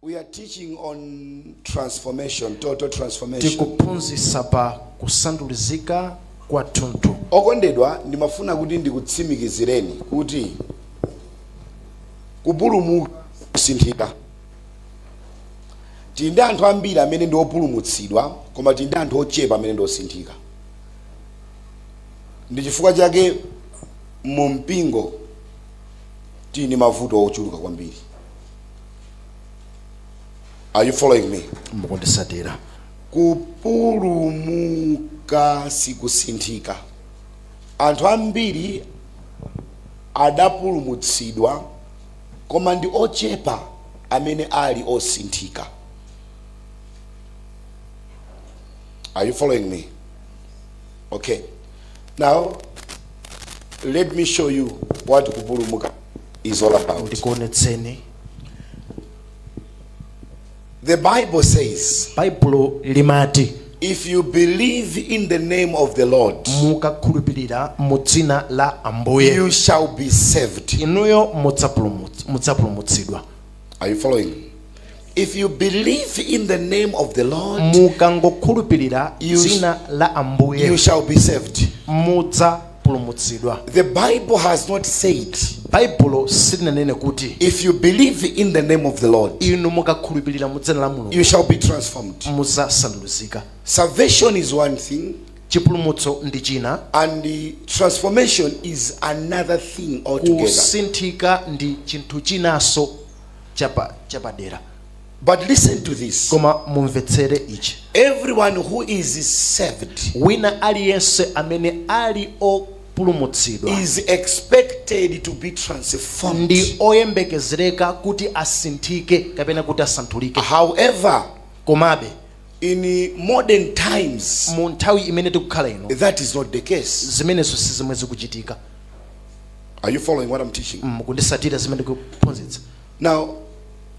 We are teaching on transformation, total transformation. tikuphunzitsa pa kusandulizika kwa thunthu okondedwa ndimafuna kuti ndikutsimikizireni kuti kupulumuka sikusinthika tili ndi anthu ambiri amene ndi opulumutsidwa koma tili ndi anthu ochepa amene ndi osinthika ndi chifukwa chake mu mpingo tili ndi mavuto ochuluka kwambiri are you following me mukundisatira kupulumuka sikusinthika anthu ambiri adapulumutsidwa koma ndi ochepa amene ali osinthika are you following me okay now let me show you what kupulumuka is all about. ndikuonetseni The Bible says, baibulo limati if you believe in the name of the Lord, mukakhulupirira mu dzina la ambuye you shall be saved. inuyo mudzapulumut- mudzapulumutsidwa Are you following? If you believe in the name of the Lord, mukangokhulupirira You- dzina la you ambuye shall be saved. mudzapulumutsidwa The Bible has not said, baibulo silinanene kuti if you believe in the name of the Lord, inu mukakhulupirira mu dzina la mulungu you shall be transformed. mudzasandulizika Salvation is one thing, Chipulumutso ndi china. And transformation is another thing altogether. Kusinthika ndi chinthu chinanso chapadera. But listen to this. Koma mumvetsere ichi. Everyone who is saved. Wina aliyense amene ali opulumutsidwa is expected to be transformed ndi oyembekezereka kuti asinthike kapena kuti asandulike however komabe in modern times mu nthawi imene tikukhala ino that is not the case zimenezo si zomwe zikuchitika are you following what i'm teaching mm, mukundisatira zimene ndikuphunzitsa now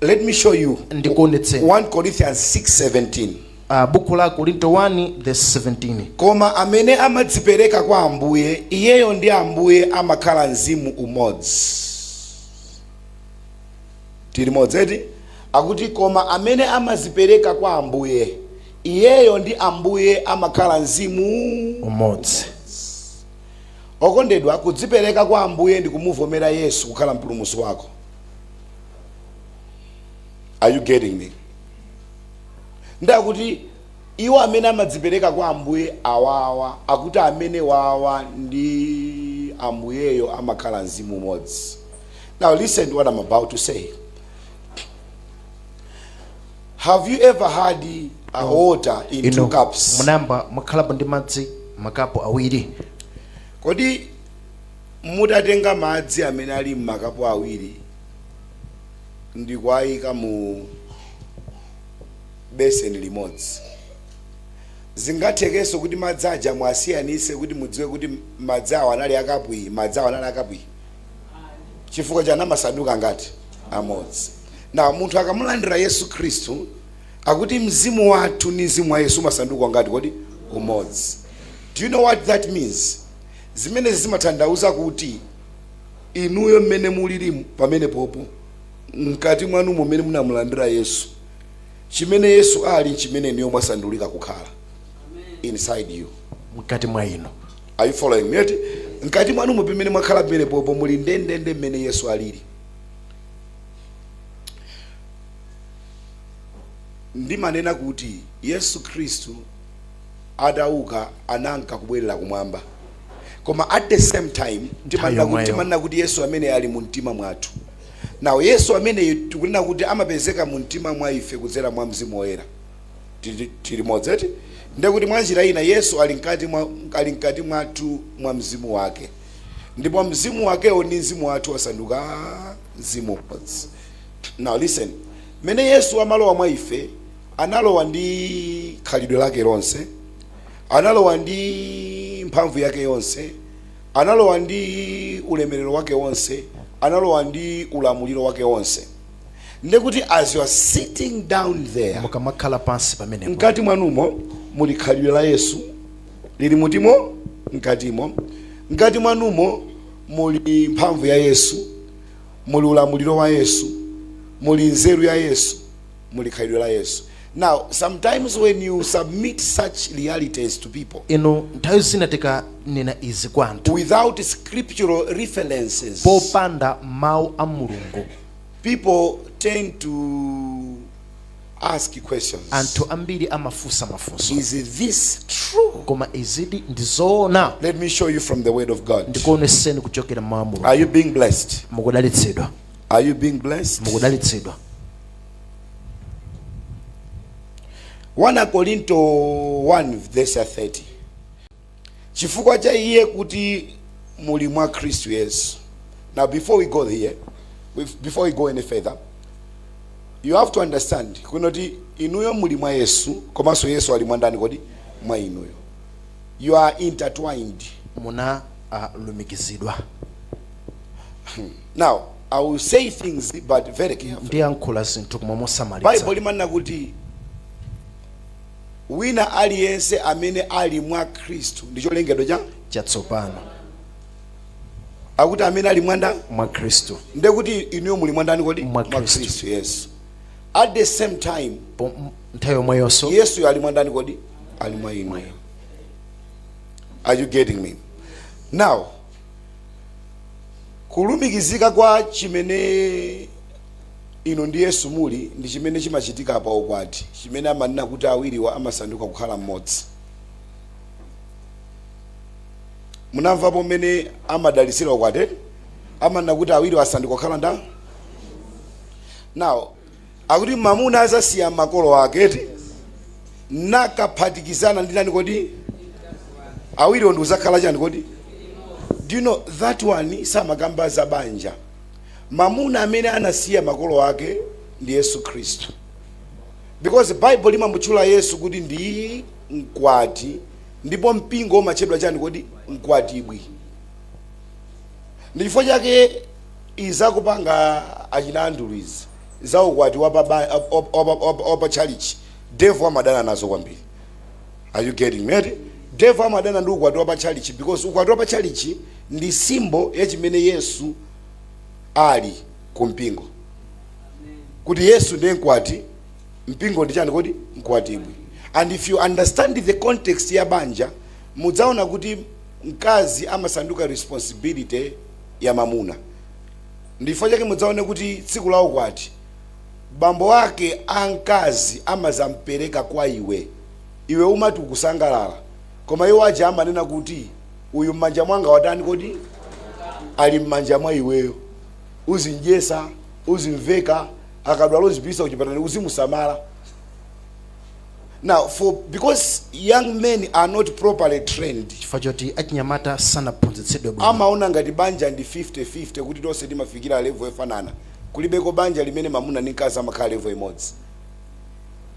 let me show you ndikuonetse 1 corinthians 6:17 Uh, buku la akorinto 1 the 17 koma amene amadzipereka kwa ambuye iyeyo ndi ambuye amakhala mzimu umodzi Tili limodzi eti? Akuti koma amene amadzipereka kwa Ambuye, iyeyo ndi Ambuye amakhala mzimu umodzi. Okondedwa, kudzipereka kwa Ambuye ndi kumuvomera Yesu kukhala mpulumutsi wako. Are you getting me? Ndi akuti iwo amene amadzipereka kwa Ambuye awawa, akuti amenewawa ndi Ambuyeyo amakhala mzimu umodzi. Now, listen to what I'm about to say. Have you ever had a water in two cups? munayamba mwakhalapo ndi madzi makapu awiri Kodi mutatenga madzi amene ali m'makapu awiri ndi kuwayika mu beseni limodzi zingathekenso kuti madzi aja muwasiyanitse kuti mudziwe kuti madzi awo anali akapu iyi madzi awo anali akapu iyi chifukwa chani amasanduka ngati amodzi na munthu akamulandira yesu khristu akuti mzimu wathu ni mzimu wa yesu umasanduka ngati kodi umodzi do you know what that means zimenezi zimatanthauza kuti inuyo mmene mulilimu pamenepopo mkati mwanumo mmene munamulandira yesu chimene yesu ali nchimene inuyo mwasandulika kukhala inside you mkati mwa inu Are you following me? Eti mkati mwanumo mmene mwakhala pamenepopo muli ndendende mmene Yesu alili. Timanena kuti Yesu Khristu atauka ananka kubwerera kumwamba. Koma at the same time timanena kuti Yesu amene ali mu mtima mwathu. Now Yesu ameneyu tikunena kuti amapezeka mu mtima mwa ife kudzera mwa Mzimu Woyera. tili limodzi eti ndiye kuti mwa njira ina yesu ali mkati mwathu mwa mzimu wake ndipo mzimu wakewo ndi mzimu wathu wasanduka mzimu umodzi now listen mmene yesu amalowa mwa ife analowa ndi khalidwe lake lonse analowa ndi mphamvu yake yonse analowa ndi ulemerero wake wonse analowa ndi ulamuliro wake wonse ndekuti as you are sitting down there mukamakhala pansi pamenepo mkati mwanumo muli khalidwe la yesu lili mkatimo mkatimo mkati mwanumo muli mphamvu ya yesu muli ulamuliro wa yesu muli nzeru ya yesu muli khalidwe la yesu now sometimes when you submit such realities to people nthawi zina tikanena izi kwa anthu without scriptural references popanda mawu a mulungu People tend to ask questions. Anthu ambiri amafunsa mafunso. Is this true? Koma izidi ndi zoona. Let me show you from the word of God. Ndikuoneseni kuchokera m'mawu a Mulungu. Are you being blessed? Mukudalitsidwa. Are you being blessed? Mukudalitsidwa. 1 Korinto 1 verse 30. chifukwa cha iye kuti muli mwa khristu yesu now before we go here bef- before we go any further you have to understand kunena kuti inuyo muli mwa yesu komanso yesu ali mwa ndani kodi mwa inuyo you are intertwined munalumikizidwa now i will say things but very carefully ndiyankhula zinthu koma mosamalitsa baibo limanena kuti Wina aliyense amene ali mwa Khristu ndi cholengedwa chatsopano. Akuti amene ali mwa ndani? Mwa Khristu. Ndiye kuti inuyo muli mwa ndani kodi? Mwa Khristu. Yes. At the same time, nthawi yomweyonso Yesu ali mwa ndani kodi? Ali mwa inu. Are you getting me? Now, Kulumikizika kwa chimene inu ndi Yesu muli ndi chimene chimachitika pa ukwati, chimene amanena kuti awiriwa amasanduka kukhala mmodzi. Munamvapo mmene amadalitsira ukwati, eti? Amanena kuti awiriwa asanduka kukhala ndani? Now, Akuti mamuna azasiya makolo ake eti? Nakaphatikizana ndi ndani kodi? Awiriwo ndikuzakhala chani kodi? Do you know that one samakamba za banja. Mamuna amene anasiya makolo ake ndi Yesu Khristu. Because Baibulo limamutchula Yesu kuti ndi mkwati ndipo mpingo umatchedwa chani kodi? Mkwatibwi. Ndi chifukwa chake Izi zakupanga achina Andrew izi za ukwati wa pa ba- wa- wa- wa- wa- wa- wa pa chalichi devil amadana nazo kwambiri are you getting me eti devil amadana ndi ukwati wa pa chalichi because ukwati wa pa chalichi ndi symbol ya chimene yesu ali ku mpingo kuti yesu ndiye mkwati mpingo ndi chani kodi mkwatibwi and if you understand the context ya banja mudzaona kuti mkazi amasanduka responsibility ya mamuna. Ndichifukwa chake mudzaone kuti tsiku la ukwati bambo ake a mkazi amazampereka kwa iwe. Iwe umati ukusangalala koma iwo aja amanena kuti uyu mmanja mwanga watani kodi? Ali mmanja mwa iweyo. Uzimdyesa, uzimveka, akadwala uzimpititsa kuchipatala uzimusamala. Now, because young men are not properly trained, chifukwa choti achinyamata sanaphunzitsidwe bwino amaona ngati banja ndi 50-50 kuti tonse timafikira level yofanana kulibeko banja limene mamuna ndi mkazi amakhala level imodzi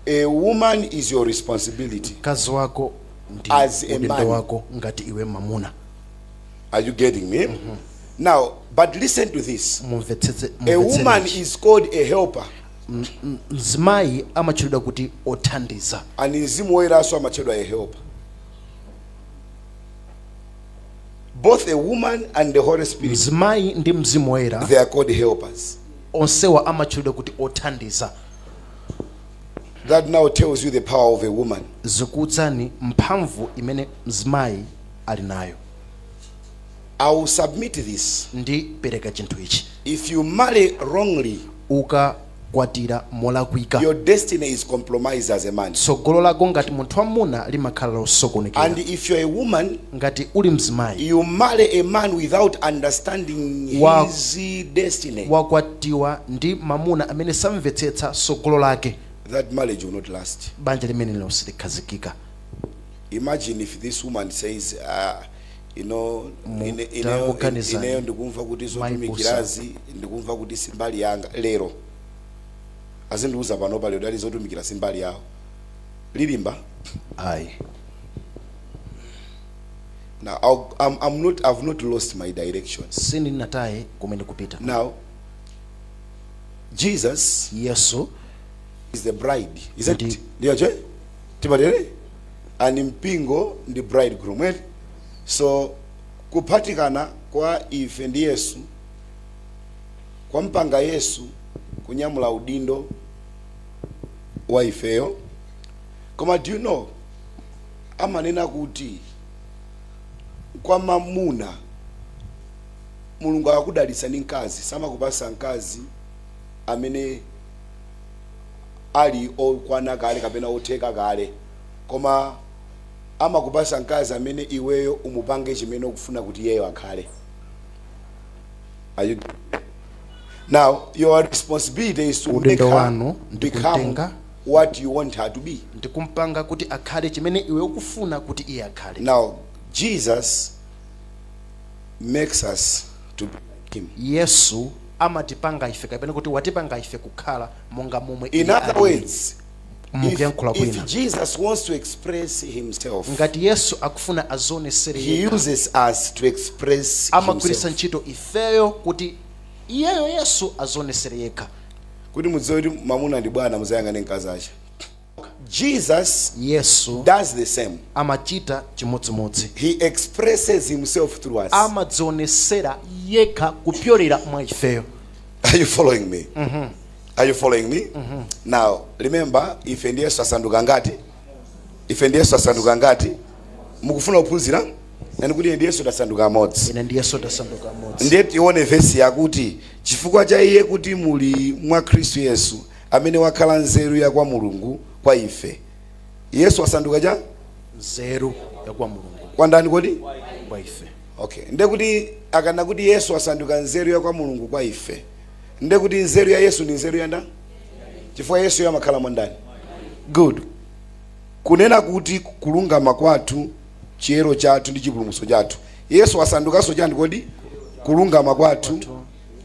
a woman is your responsibility mkazi wako ndi As a man. udindo wako ngati iwe mamuna are you getting me now but listen to this mumvetsetse a woman mumvetsere is called a helper mzimayi amatchulidwa kuti othandiza and mzimu woyeranso amatchedwa a helper both a woman and the holy spirit mzimayi ndi mzimu woyera they are called helpers onsewa amatchulidwa kuti othandiza that now tells you the power of a woman zikuuzani mphamvu imene mzimayi ali nayo I will submit this. Ndipereka chinthu ichi. If you marry wrongly. Ukakwatira molakwika. Your destiny is compromised as a man. Tsogolo lako ngati munthu wamuna limakhala losokonekera. And if you are a woman. Ngati uli mzimayi. You marry a man without understanding his destiny. Wakwatiwa ndi mamuna amene samvetsetsa tsogolo lake. That marriage will not last. Banja limenelo silikhazikika. Imagine if this woman says, uh, you know Mu- ine- ineyo- tangoganizani. ineyo ndikumva kuti Maipusa. zotumikirazi ndikumva kuti si mbali yanga lero azindiuza pano pali udali zotumikira si mbali yawo lilimba? ayi now I'll, I'm, I'm not, i've not lost my direction sindinataye kumene ndikupita now jesus yesu is the bride isn't Ndi- it ndiyo mkwati eti and mpingo ndi bridegroom eti so kuphatikana kwa ife ndi yesu kwampanga yesu kunyamula udindo wa ifeyo koma do you know amanena kuti kwa mamuna mulungu akakudalitsa ndi mkazi samakupatsa mkazi amene ali okwana kale kapena otheka kale koma amakupatsa mkazi amene iweyo umupange chimene ukufuna kuti iyeyo akhale Are you getting me? now your responsibility is to Udindo make her wanu ndi become kumtenga. what you want her to be ndikumpanga kuti akhale chimene iwe ukufuna kuti iye akhale now jesus makes us to be like him yesu amatipanga ife kapena kuti watipanga ife kukhala monga momwe In iye other alili words, mukuyankhula if, kwina if Jesus wants to express himself, ngati yesu akufuna azionetsere he yekha uses us to express amagwiritsa himself. ntchito ifeyo kuti iyeyo yesu azionetsere yekha Kuti mudziwe kuti mamuna ndi bwana muzayang'ane mkazi ake. Jesus yesu does the same. amachita chimodzimodzi He expresses himself through us. amadzionesera yekha kupyolera mwa ifeyo Are you following me? Are you following me? Now, remember, ife ndi Yesu asanduka ngati? Ife ndi Yesu asanduka ngati? Mukufuna kuphunzira? Nenani kuti ine ndi Yesu tasanduka amodzi. ine ndi yesu tasanduka amodzi Ndiye tione vesi yakuti chifukwa cha iye kuti muli mwa Khristu Yesu amene wakhala nzeru ya kwa Mulungu kwa ife. Yesu wasanduka chani? Nzeru ya kwa Mulungu. Kwa ndani kodi? Kwa ife. Okay. Nde kuti akanena kuti Yesu wasanduka nzeru ya kwa Mulungu kwa ife. Nde kuti nzeru ya Yesu ni nzeru ya ndani? Chifukwa Yesuyo amakhala mwa ndani? Good. Kunena kuti kulungama kwathu, chiyero chathu ndi chipulumutso chathu. Yesu wasandukanso chani kodi? Kulungama kwathu,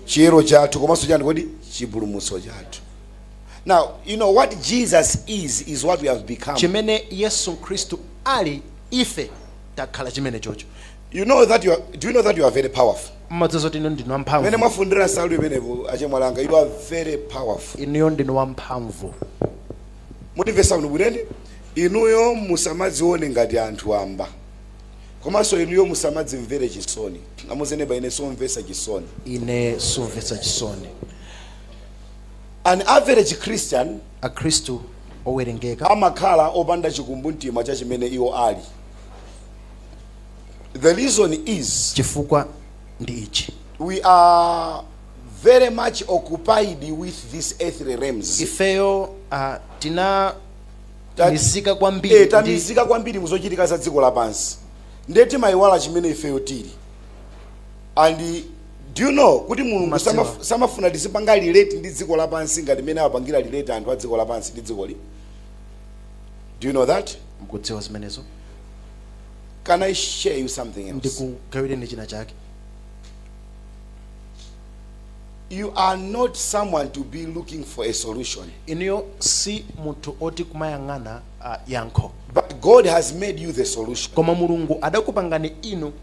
chiyero chathu komanso chani kodi chipulumutso chathu now you know what jesus is is what we have become chimene yesu khristu ali ife takhala chimene chocho you know that you are, do you know that you are very powerful mmadziwa zoti inu ndinu wamphamvu mene mwafundira nsalu imenepo achemwalanga you are very powerful inuyo ndinu wamphamvu mundimvesa bwino bwinene inuyo musamadzione ngati anthu wamba komanso inuyo musamadzimvere chisoni auze neba ine somvesa chisoni ine somvesa chisoni an average christian akhristu owerengeka amakhala opanda chikumbumtima cha chimene iwo ali the reason is chifukwa ndi ichi we are very much occupied with this earthly realms ifeyo uh, tina tamizika kwambiri eh, tamizika kwambiri muzochitika za dziko lapansi ndiye timayiwala chimene ifeyo tili and do you know kuti mulungu samafuna tizipanga relate ndi dziko lapansi ngati mmene amapangira relate anthu a dziko lapansi ndi dzikoli do you know that mkudziwa zimenezo can i share you something else ndikugawireni china chake You are not someone to be looking for a solution. Inuyo si munthu woti kumayang'ana uh, yankho. But God has made you the solution. Koma Mulungu adakupangani inu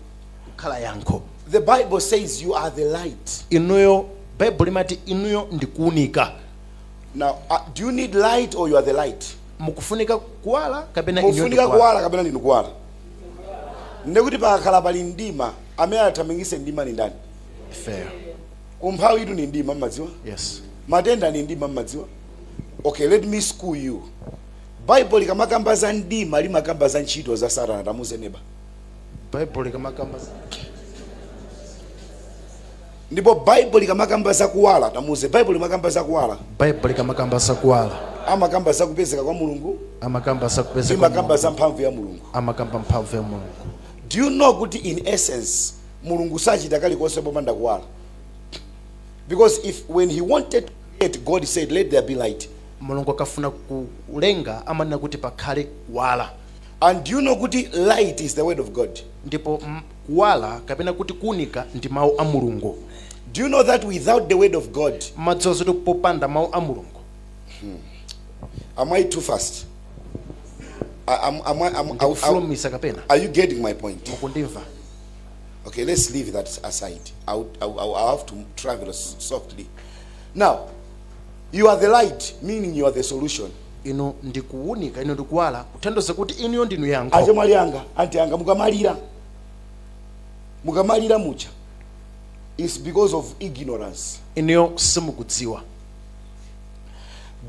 kukhala yankho. The Bible says you are the light. Inuyo Baibulo imati inuyo ndikuunika. Now, uh, do you need light or you are the light? Mukufunika kuwala kapena inuyo ndikuwala. Mukufunika kuwala kapena ndinu kuwala. Ndekuti pakakhala pali mdima amene athamangitse mdima ni ndani? ifeyo umphawitu ndi mdima mmadziwa yes matenda ndi mdima mmadziwa okay let me school you bible likamakamba za mdima limakamba za ntchito za satana tamuze neba bible likamakamba za- ndipo bible likamakamba za kuwala tamuze bible limakamba za kuwala bible likamakamba za kuwala amakamba za kupezeka kwa mulungu amakamba za kupezeka kwa mulungu limakamba za mphamvu ya mulungu amakamba mphamvu ya mulungu do you know kuti in essence Mulungu sachita kalikonse popanda kuwala because when he wanted to create God said let there be light. Mulungu akafuna kulenga amanena kuti pakhale kuwala. And do you know kuti light is the word of God. Ndipo kuwala kapena kuti kuunika ndi mawu a Mulungu. Do you know that without the word of God? Mmadziwa zoti popanda mawu a Mulungu. Hmm. Am I too fast? I, am, am I, am, I, I, I, are you getting my point? Mukundimva. Okay, let's leave that aside. I, would, I, would, I have to travel softly. Now, you are the light, meaning you are the solution. inu ndi kuwunika inu ndi kuwala kutanthauza kuti inuyo ndinu yankho achemwali anga anti anga mukamalira mukamalira mucha is because of ignorance inuyo simukudziwa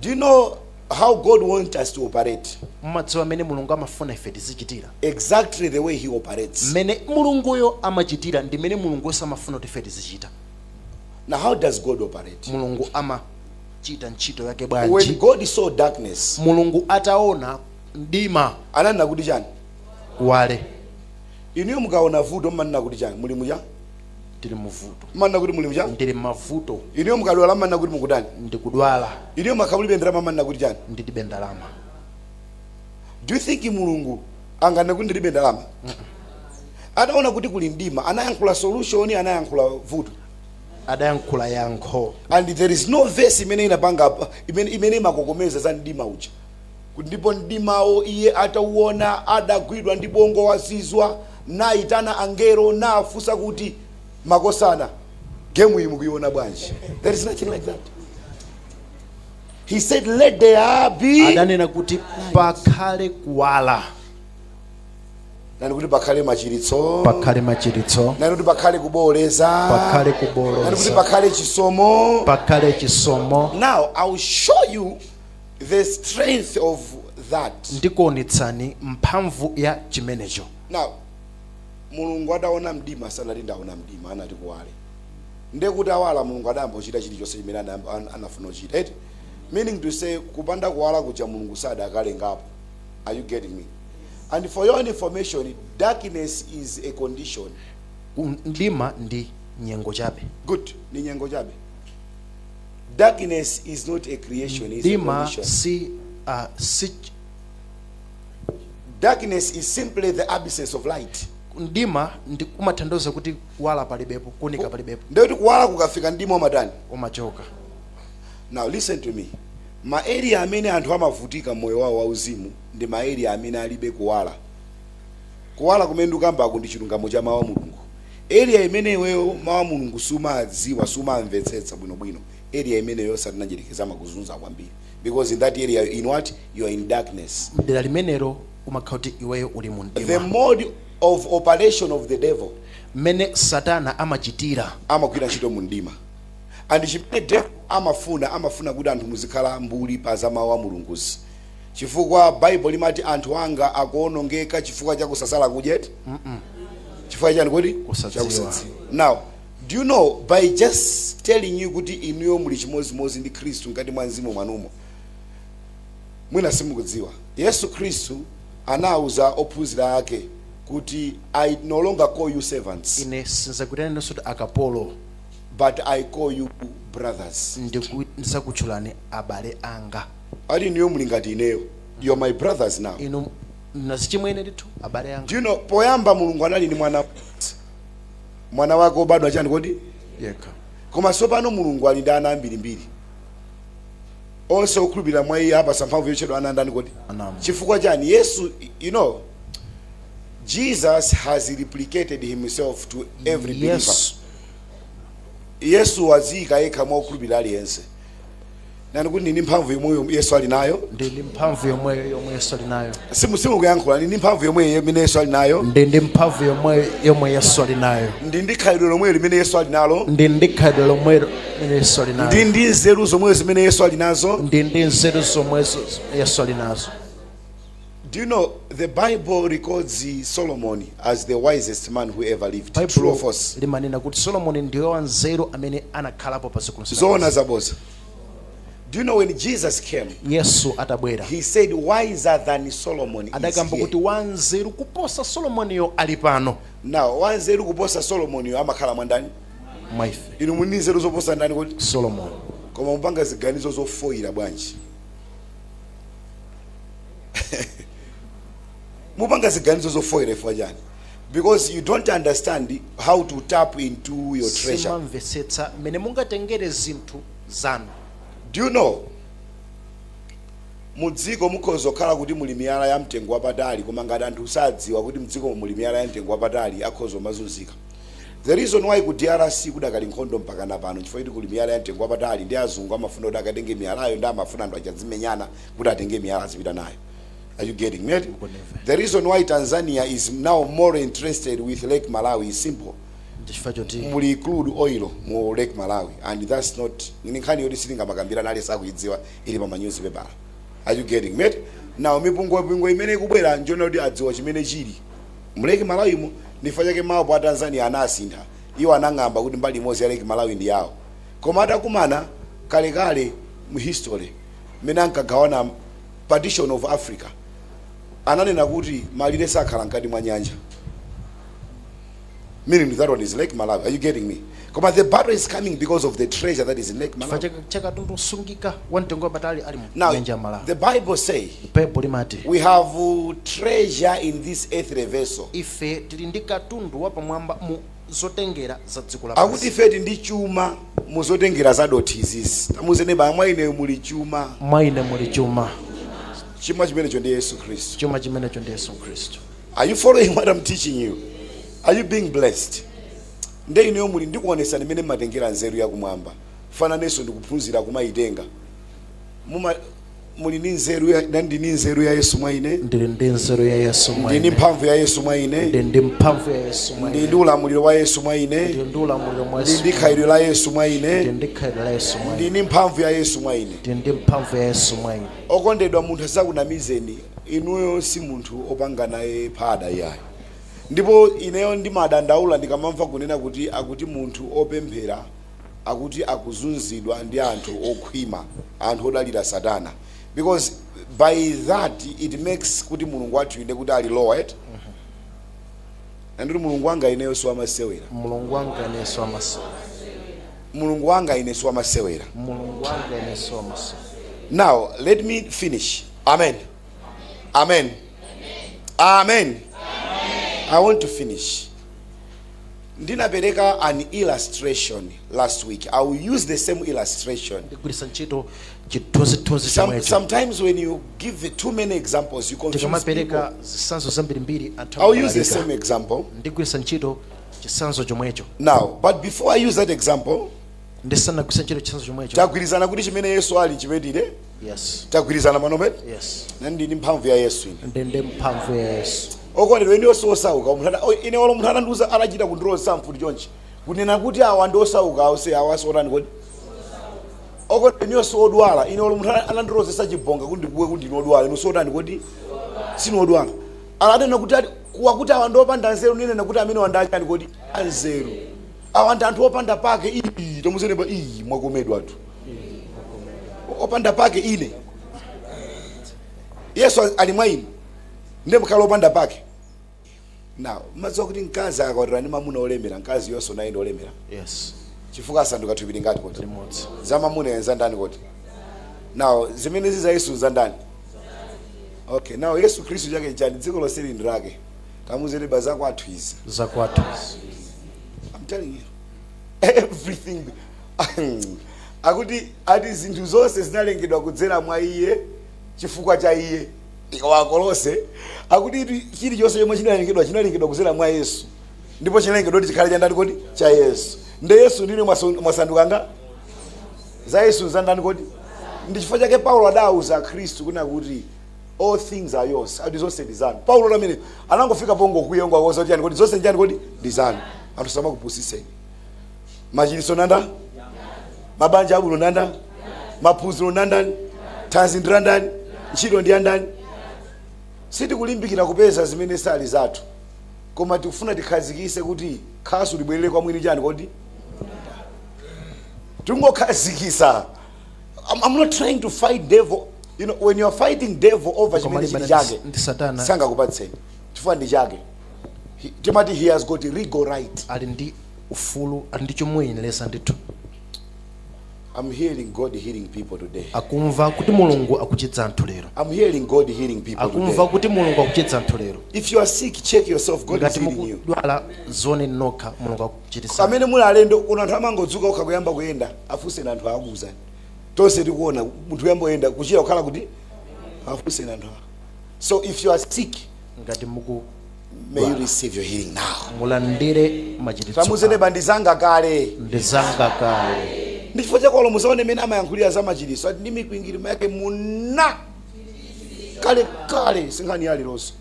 do you know How God want us to operate. Mumadziwa mmene Mulungu amafuna ife tizichitira. Exactly the way he operates. Mmene Mulunguyo amachitira ndi mmene Mulunguyonso amafuna kuti ife tizichita. Now how does God operate? Mulungu amachita ntchito yake bwanji? When God saw darkness. Mulungu ataona mdima. Ananena kuti chani? Kuwale. Inuyo mukaona vuto mmanena kuti chani? Muli mchani? ndili muvuto mmanena kuti muli mchani ndili m'mavuto inuyo mukadwala mmanena kuti mukutani ndikudwala inuyo mukakhala mulibe ndalama mmanena kuti chani ndilibe ndalama do you think mulungu anganene kuti ndilibe ndalama ataona kuti kuli mdima anayankhula solution anayankhula vuto adayankhula yankho and there is no verse imene inapanga imene, imene imakokomeza za mdima uja Ndipo mdimawo iye atauona, adagwidwa ndi bongo wazizwa, naitana angelo, nafunsa kuti, Makosana, game iyi mukuiona bwanji? There is nothing like that. He said, Let there be. adanena kuti pakhale kuwala Nenani kuti pakhale machiritso. pakhale machiritso Nenani kuti pakhale kubooleza. pakhale kubooleza Nenani kuti pakhale chisomo. pakhale chisomo Now, I will show you the strength of that. ndikuonetsani mphamvu ya chimenecho Now, mulungu ataona mdima sanati ndaona mdima adati kuwale nde kuti awala mulungu adayamba kuchita chilichonse chimene anayamba- an- anafuna kuchita eti meaning to say kupanda kuwala kuja mulungu sadakalengapo are you getting me and for your information darkness is a condition Ku- mdima ndi nyengo chabe good ndi nyengo chabe Darkness is not a creation, it's a Dima condition. si uh, si Darkness is simply the absence of light. mdima ndi kumatanthauza kuti kuwala palibepo kuunika palibepo Ndekuti kuwala kukafika mdima umatani. umachoka Now listen to me. Ma area amene anthu amavutika mmoyo wawo wauzimu ndi ma area amene alibe kuwala. Kuwala kumene ndikukambaku ndi chilungamo cha Mau a Mulungu. Area imene iweyo Mau a Mulungu sumawadziwa, sumawamvetsetsa bwino bwino, area imeneyo Satana Mdyerekezi amakuzunza kwambiri because in that area you're in what? You're in darkness. Mdera limenelo umakhala kuti iweyo uli mu mdima. The mode of operation of the devil. Mmene Satana amachitira. Amagwira ntchito mu mdima. And chimene devil amafuna, amafuna kuti anthu muzikhala mbuli pa za Mau a Mulunguzi. Chifukwa Bible limati anthu anga akuonongeka chifukwa cha kusasala kudya eti? Mm -mm. Chifukwa chani kodi? Kusadziwa. Now, do you know by just telling you kuti inuyo muli chimozimozi ndi Khristu ngati mwa mzimu mwanumo. Mwina simukudziwa. Yesu Khristu anauza ophunzira ake kuti I no longer call you servants. Ine sinzakutani nonse kuti akapolo. But I call you brothers. Ndikuzakutchulani abale anga. Ati inuyo muli ngati ineyo. You're my brothers now. Inu nazichimwene ndithu abale anga. Do you know poyamba Mulungu anali ndi mwana mmodzi. Mwana wake obadwa chani kodi? Yekha. Koma sopano Mulungu ali ndi ana ambiri mbiri. Onse okhulupirira mwa iye apatsa mphamvu yotchedwa ana ndani kodi? A Mulungu. Chifukwa chani? Yesu, you know, Jesus has replicated himself to every believer. Yesu. Yesu waziyika yekha mwa okhulupirira aliyense. nenani kuti ndili ndi mphamvu yomweyo yesu ali nayo ndili ndi mphamvu yomweyo yomwe yesu ali nayo Simu- simukuyankhula ndili ndi mphamvu yomweyo imene yesu ali nayo ndili ndi mphamvu yomweyo yomwe yesu ali nayo ndili ndi khalidwe lomwelo limene yesu ali nalo ndili ndi khalidwe lomwelo limene yesu ali nalo ndili ndi nzeru zomwezo zimene yesu ali nazo ndili ndi nzeru zomwezo yesu ali nazo Do you know the Bible records Solomon as the wisest man who ever lived? True Baibulo or false? limanena kuti solomoni ndiye wanzeru amene anakhalapo pa dziko lonse Zoona lapansi. zabodza. Do you know when Jesus came, yesu atabwera he said, Wiser than Solomon is adakamba kuti here. wanzeru kuposa solomoniyo ali pano Now, wanzeru kuposa Solomon yo amakhala mwa ndani? mwa ife Inu muli ndi nzeru zoposa ndani kodi? solomoni Koma mupanga ziganizo zofoyira bwanji? mupanga ziganizo zofoyira chifukwa chani because you don't understand how to tap into your treasure simumamvetsetsa mmene mungatengere zinthu zanu do you know mudziko mukhoza kukhala kuti muli miyala ya mtengo wapatali koma ngati anthu sadziwa kuti mdziko muli miyala ya mtengo wapatali akhoza kumazunzika the reason why ku drc kudakali nkhondo mpaka na pano chifukwa kuti kuli miyala ya mtengo wapatali nde azungu amafuna kuti akatenge miyalayo nde amafuna anthu aja adzimenyana kuti atenge miyala azipita nayo Are you getting me? The reason why Tanzania is now more interested with Lake Malawi is simple. Chifukwa choti muli crude oil mu Lake Malawi and that's not ni nkhani yoti sitingamakambirane aliyense akuidziwa ili pa ma newspaper. Are you getting me? Now mipungwepungwe imene ikubwera njonena kuti adziwa chimene chili mu Lake Malawi mu ndi chifukwa chake mapu a Tanzania anasintha. Iwo anakamba kuti mbali imodzi ya Lake Malawi ndi yawo. Koma atakumana kalekale mu history mmene ankagawana Partition of Africa ananena kuti malire sakhala mkati mwa nyanja meaning that one is Lake Malawi. Are you getting me? Koma the battle is coming because of the treasure that is in Lake chifukwa Malawi. cha ka- cha katundu osungika wa mtengo wapatali ali mu Now, nyanja ya malawi the Bible say baibulo limati we have uh, treasure in this earthly vessel. ife tili ndi katundu wapamwamba mu zotengera za dziko lapansi. Akuti ife tili ndi chuma mu zotengera za dothi izizi. Tamuuze neba mwa ine muli chuma. Mwa ine muli chuma. Chuma chimenecho ndi Yesu Khristu. Chuma chimenecho ndi Yesu Khristu. Are you following what I'm teaching you? Are you being blessed? Nde ineyo muli ndikuonetsani mmene mumatengera nzeru ya kumwamba. Chifukwa nanenso ndikuphunzira kumaitenga. muma muli ndi nzeru ya ndili ndi nzeru ya Yesu mwa ine ndili ndi nzeru ya yesu mwa ndi ndi ine mphamvu ya Yesu mwa ine ndili ndi mphamvu ya yesu mwa ndi ine ndi ulamuliro wa Yesu mwa ine ndili ndi ulamuliro wa ndi yesu ndi khalidwe la Yesu mwa ndili ine ndi khalidwe la yesu mwa ndi ine ndi mphamvu ya Yesu mwa ine ndili ndi mphamvu ya yesu mwa ine okondedwa munthu asakunamizeni inuyo si munthu opanga naye phada iyayo ndipo ineyo ndimadandaula ndikamamva kunena kuti akuti munthu opemphera akuti akuzunzidwa ndi anthu okhwima anthu odalira satana because by that it makes kuti mulungu wathu nde kuti ali lowered and kuti mulungu wanga ineyo siwamasewera mulungu wanga ine siwamasewera mulungu wanga ine siwamasewera mulungu wanga ine siwamasewera now let me finish amen amen amen i want to finish ndinapereka an illustration last week i will use the same illustration ndigwiritsa ntchito chithunzithunzi Some, chomwecho sometimes when you give too many examples you confuse people tikamapereka zitsanzo zambirimbiri anthu i'll use the amabalalika. same example ndigwiritsa ntchito chitsanzo chomwecho now but before i use that example ndisanagwiritse ntchito chitsanzo chomwecho tagwirizana kuti chimene yesu ali chimene Yes. tagwirizana pano pene Yes. ndani ndi mphamvu ya yesu ine Ndine mphamvu ya Yesu. okondedwa ineyo si osauka munthu ana- o- ine olo munthu anandiuza anachita kundilozetsa mfuti chonchi kunena kuti awa ndi osauka awo se awa si otani kodi okondedwa ineyo si odwala ine olo munthu ana- anandilozetsa chibonga kuti ndikuwe kuti ndine odwala ine si otani kodi sine odwala ananena kuti ali- kuwa kuti awa ndi opanda nzeru ndinena kuti amenewa ndi achani kodi anzeru awa ndi anthu opanda pake iyi tamuuze neba iyi mwakomedwatu opanda pake ine yesu ali mwa ine ndiye nkhale opanda pake now mumadziwa kuti mkazi akakwatira ndi mamuna olemera mkaziyonso naye ndi olemera Yes. chifukwa asanduka thupi lingati kodi Limodzi. za mamunayo za ndani kodi now zimene zili za yesu za ndani okay now yesu khristu chake chani dziko lonseli ndi lake tamuuze neba zakwathu izi Zakwathu. I'm telling you. Everything akuti ati zinthu zonse zinalengedwa kudzera mwa iye chifukwa cha iye akolose akuti ati chilichonse chomwe chinalengedwa chinalengedwa kudzera mwa yesu ndipo chinalengedwa kuti chikhale cha ndani kodi cha yesu nde yesu ndi inu mwasu- mwasanduka nga za yesu za ndani kodi ndi chifukwa chake paulo adawuza akhristu kunena kuti all things are yours ati zonse ndi zanu paulo amene anangofika pongokwiya nkuwauza kuti chani kodi zonse ndi chani kodi ndi zanu anthu asamakupusitseni machiritso nandani mabanja abwino nandani maphunziro nandani thanzi ndi landani ntchito ndi yandani sitikulimbikira kupeza zimene sali zathu koma tikufuna tikhazikise kuti khasu libwerere kwa mwini chani kodi tingokhazikisa I'm, I'm not trying to fight devil you know when you are fighting devil over chimene chili chake ndi satana sangakupatseni chifukwa ndi chake He- timati he has got legal right ali ndi ufulu ali ndi chomuyenereza ndithu. I'm hearing God healing people today. akumva kuti mulungu akuchiza anthu lero I'm hearing God healing people akumva today. kuti mulungu akuchiza anthu lero If you are sick, check yourself. God is ngati healing you. mukudwala dzioneni nokha mulungu akuchiritsa amene muli alendo kuno anthu amangodzuka okha kuyamba kuyenda afunseni anthu akuuzani tonse tikuona munthu kuyamba kuyenda kuchira kukhala kuti afunseni anthu awa so if you are sick ngati muku May you receive your healing now. mulandire machiritso Tamuuzeni neba ndi zanga kale. ndi zanga kale Ndi chifukwa chake olo mutaona mene amayankhulira za machiritso ati ndi mikwingirima yake munachira kale kale si nkhani ya leronso.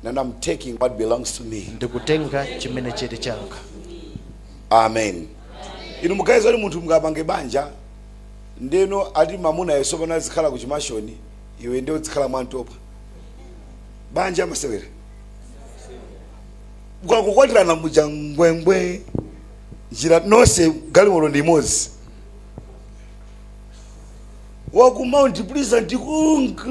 And I'm taking what belongs to me. ndikutenga chimene chili changa amen inu mukuganiza kuti munthu mungapange banja ndeno ati mamuna yeyo pano azikhala ku chimashoni iwe nde uzikhala mwantopa banja amasewera ukakukwatirana muja ngwengwe njira nonse galimoto ndi imodzi waku mount pleasant kunka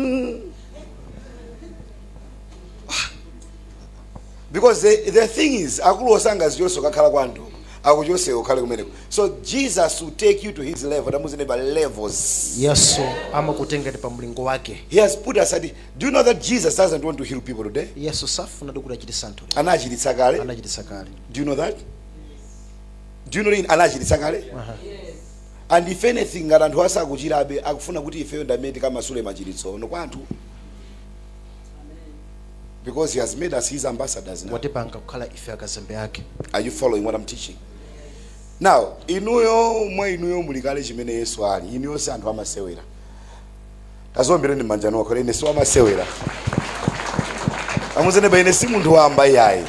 because the, the thing is akuti osangazichotsa ukakhala kwa anthu akuchotse ukhale kumeneko so jesus will take you to his level tamuuzeni neba levels yesu amakutengani pa mlingo wake he has put us at do you know that jesus doesn't want to heal people today yesu safuna ndi kuchiritsa anthu lero. anachiritsa kale anachiritsa kale do you know that do you know that anachiritsa kale and if anything ngati anthu asakuchirabe akufuna kuti ifeyo ndi amene tikamasule machiritsowo kwa anthu Because he has made us his ambassadors now. watipanga kukhala ife akazembe ake Are you following what I'm teaching? Now, inuyo mwa inuyo muli kale chimene Yesu ali. Inuyo si anthu amasewera. Tadziombereni m'manja nokho ine si wamasewera. Tamuuzeni neba ine si munthu wamba yayi.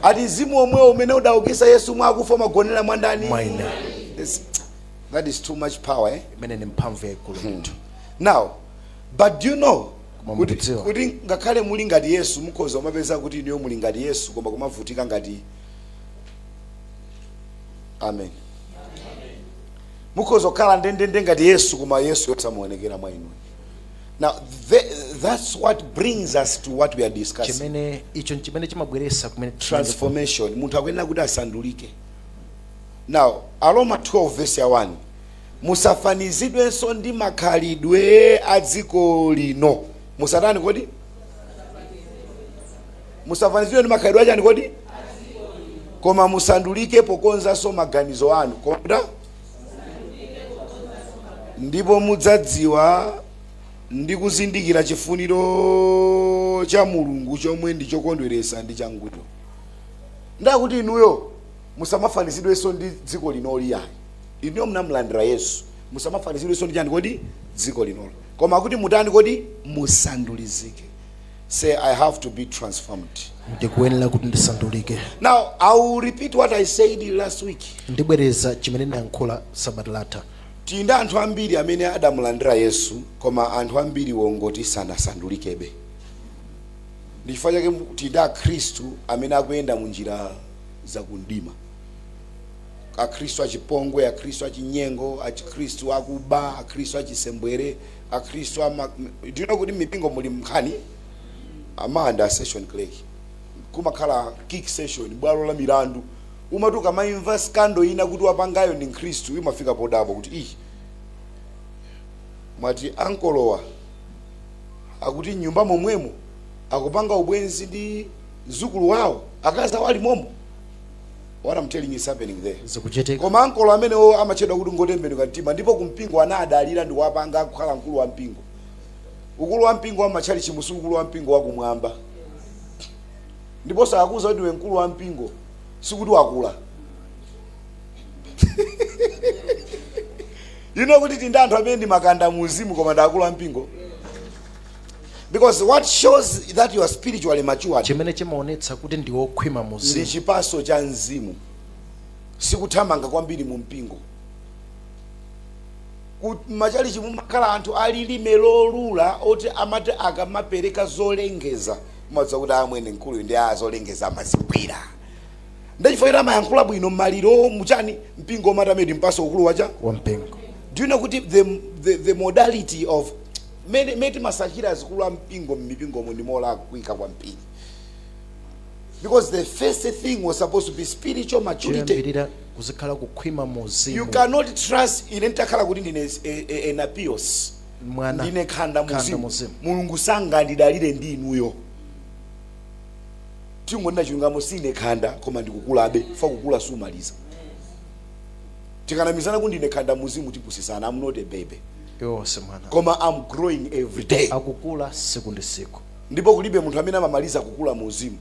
Ati mzimu omwewo umene udaukisa Yesu mwa akufa umagonera mwa ndani? Mwa ine. Yes. That is too much power, eh? imene ni mphamvu yayikulu ndithu Now, but do you know Koma kodi mukudziwa kuti ngakhale muli ngati yesu mukhoza kumapeza kuti inuyo muli ngati yesu koma kumavutika ngati amen mukhoza kukhala ndendende ngati yesu koma yesuyo samaonekera mwa inu now the, that's what brings us to what we are discussing chimene icho nchimene chimabweretsa kumene transformation munthu akuyenera kuti asandulike now aroma 12 verse ya 1 Musafanizidwenso ndi makhalidwe a dziko lino. Musatani kodi? Musafanizidwe ndi makhalidwe achani kodi? Koma musandulike pokonzanso maganizo anu. Koma mutani? Ndipo mudzadziwa ndi kuzindikira chifuniro cha Mulungu chomwe ndi chokondweretsa ndi changwiro. Nde akuti inuyo musamafanizidwenso ndi dziko linoli ayi. Inuyo mnamlandira Yesu. Musamafanizidwenso ndi chani kodi? Dziko linolo. Koma kuti mutani kodi? Musandulizike. Say, I have to be transformed. Ndikuyenera kuti ndisandulike. Now, I will repeat what I said last week. Ndibwereza chimene ndinayankhula sabata latha. Tili ndi anthu ambiri amene adamulandira Yesu, koma anthu ambiri wongoti sanasandulikebe. Ndi chifukwa chake tili ndi Akhristu amene akuyenda mu njira za kumdima. Akhristu achipongwe, Akhristu achinyengo, Akhristu akuba, Akhristu achisembwere, Akhristu ama... Do you know kuti mmipingo muli mnkhani? Amanda session clerk. Kumakhala kirk session, bwalo la milandu. Umati ukamaimva scandal ina kuti wapangayo ndi mkhristu, imafika podabwa kuti ih, mwati ankolowa akuti mnyumba momwemo akupanga ubwenzi ndi mzukulu wawo akazi awo ali momo What am telling you is happening there. Zikuchitika. Koma ankolo amenewo amatchedwa kuti ngotembenuka mtima ndipo kumpingo anaadalira ndikuwapanga kukhala mkulu wa mpingo. Ukulu wa mpingo wa mmatchalichimu si ukulu wa mpingo wa kumwamba. Ndipo akakuuza kuti iwe mkulu wa mpingo sikuti wakula. You know kuti tindi anthu amene ndi makanda mu uzimu koma ndi akulu a mpingo. because what shows that you are spiritually mature chimene chimaonetsa kuti ndi wokhwima mu uzimu ndi chipaso cha mzimu sikuthamanga kwambiri mu mpingo Ku- machalichimu mumakhala anthu alilime lolula oti amati akamapereka zolengeza umadziwa kuti amwene mkuluyu ndi a zolengeza amazigwira ndachifukwa ita amayankhula bwino maliro muchani mpingo umatha ndi kumpatsa ukulu wacha wa mpingo do you know kuti the, the, the modality of Mmene, mmene timasankhira azikulu a mpingo mmipingomu ndi molakwika kwambiri because the first thing was supposed to be spiritual maturity. Choyambirira kuzikhala kukhwima mu uzimu. You cannot trust ine nditakhala kuti ndine nepios mwana ndine khanda muzimu mulungu sangandidalire ndi inuyo tingonena chilungamo sine khanda koma ndikukulabe fa kukula sumaliza tikanamizana kuti ndine khanda muzimu tipusisana am not a baby iwe sine mwana koma am growing every day akukula siku ndi siku ndipo kulibe munthu amene amamaliza kukula mu uzimu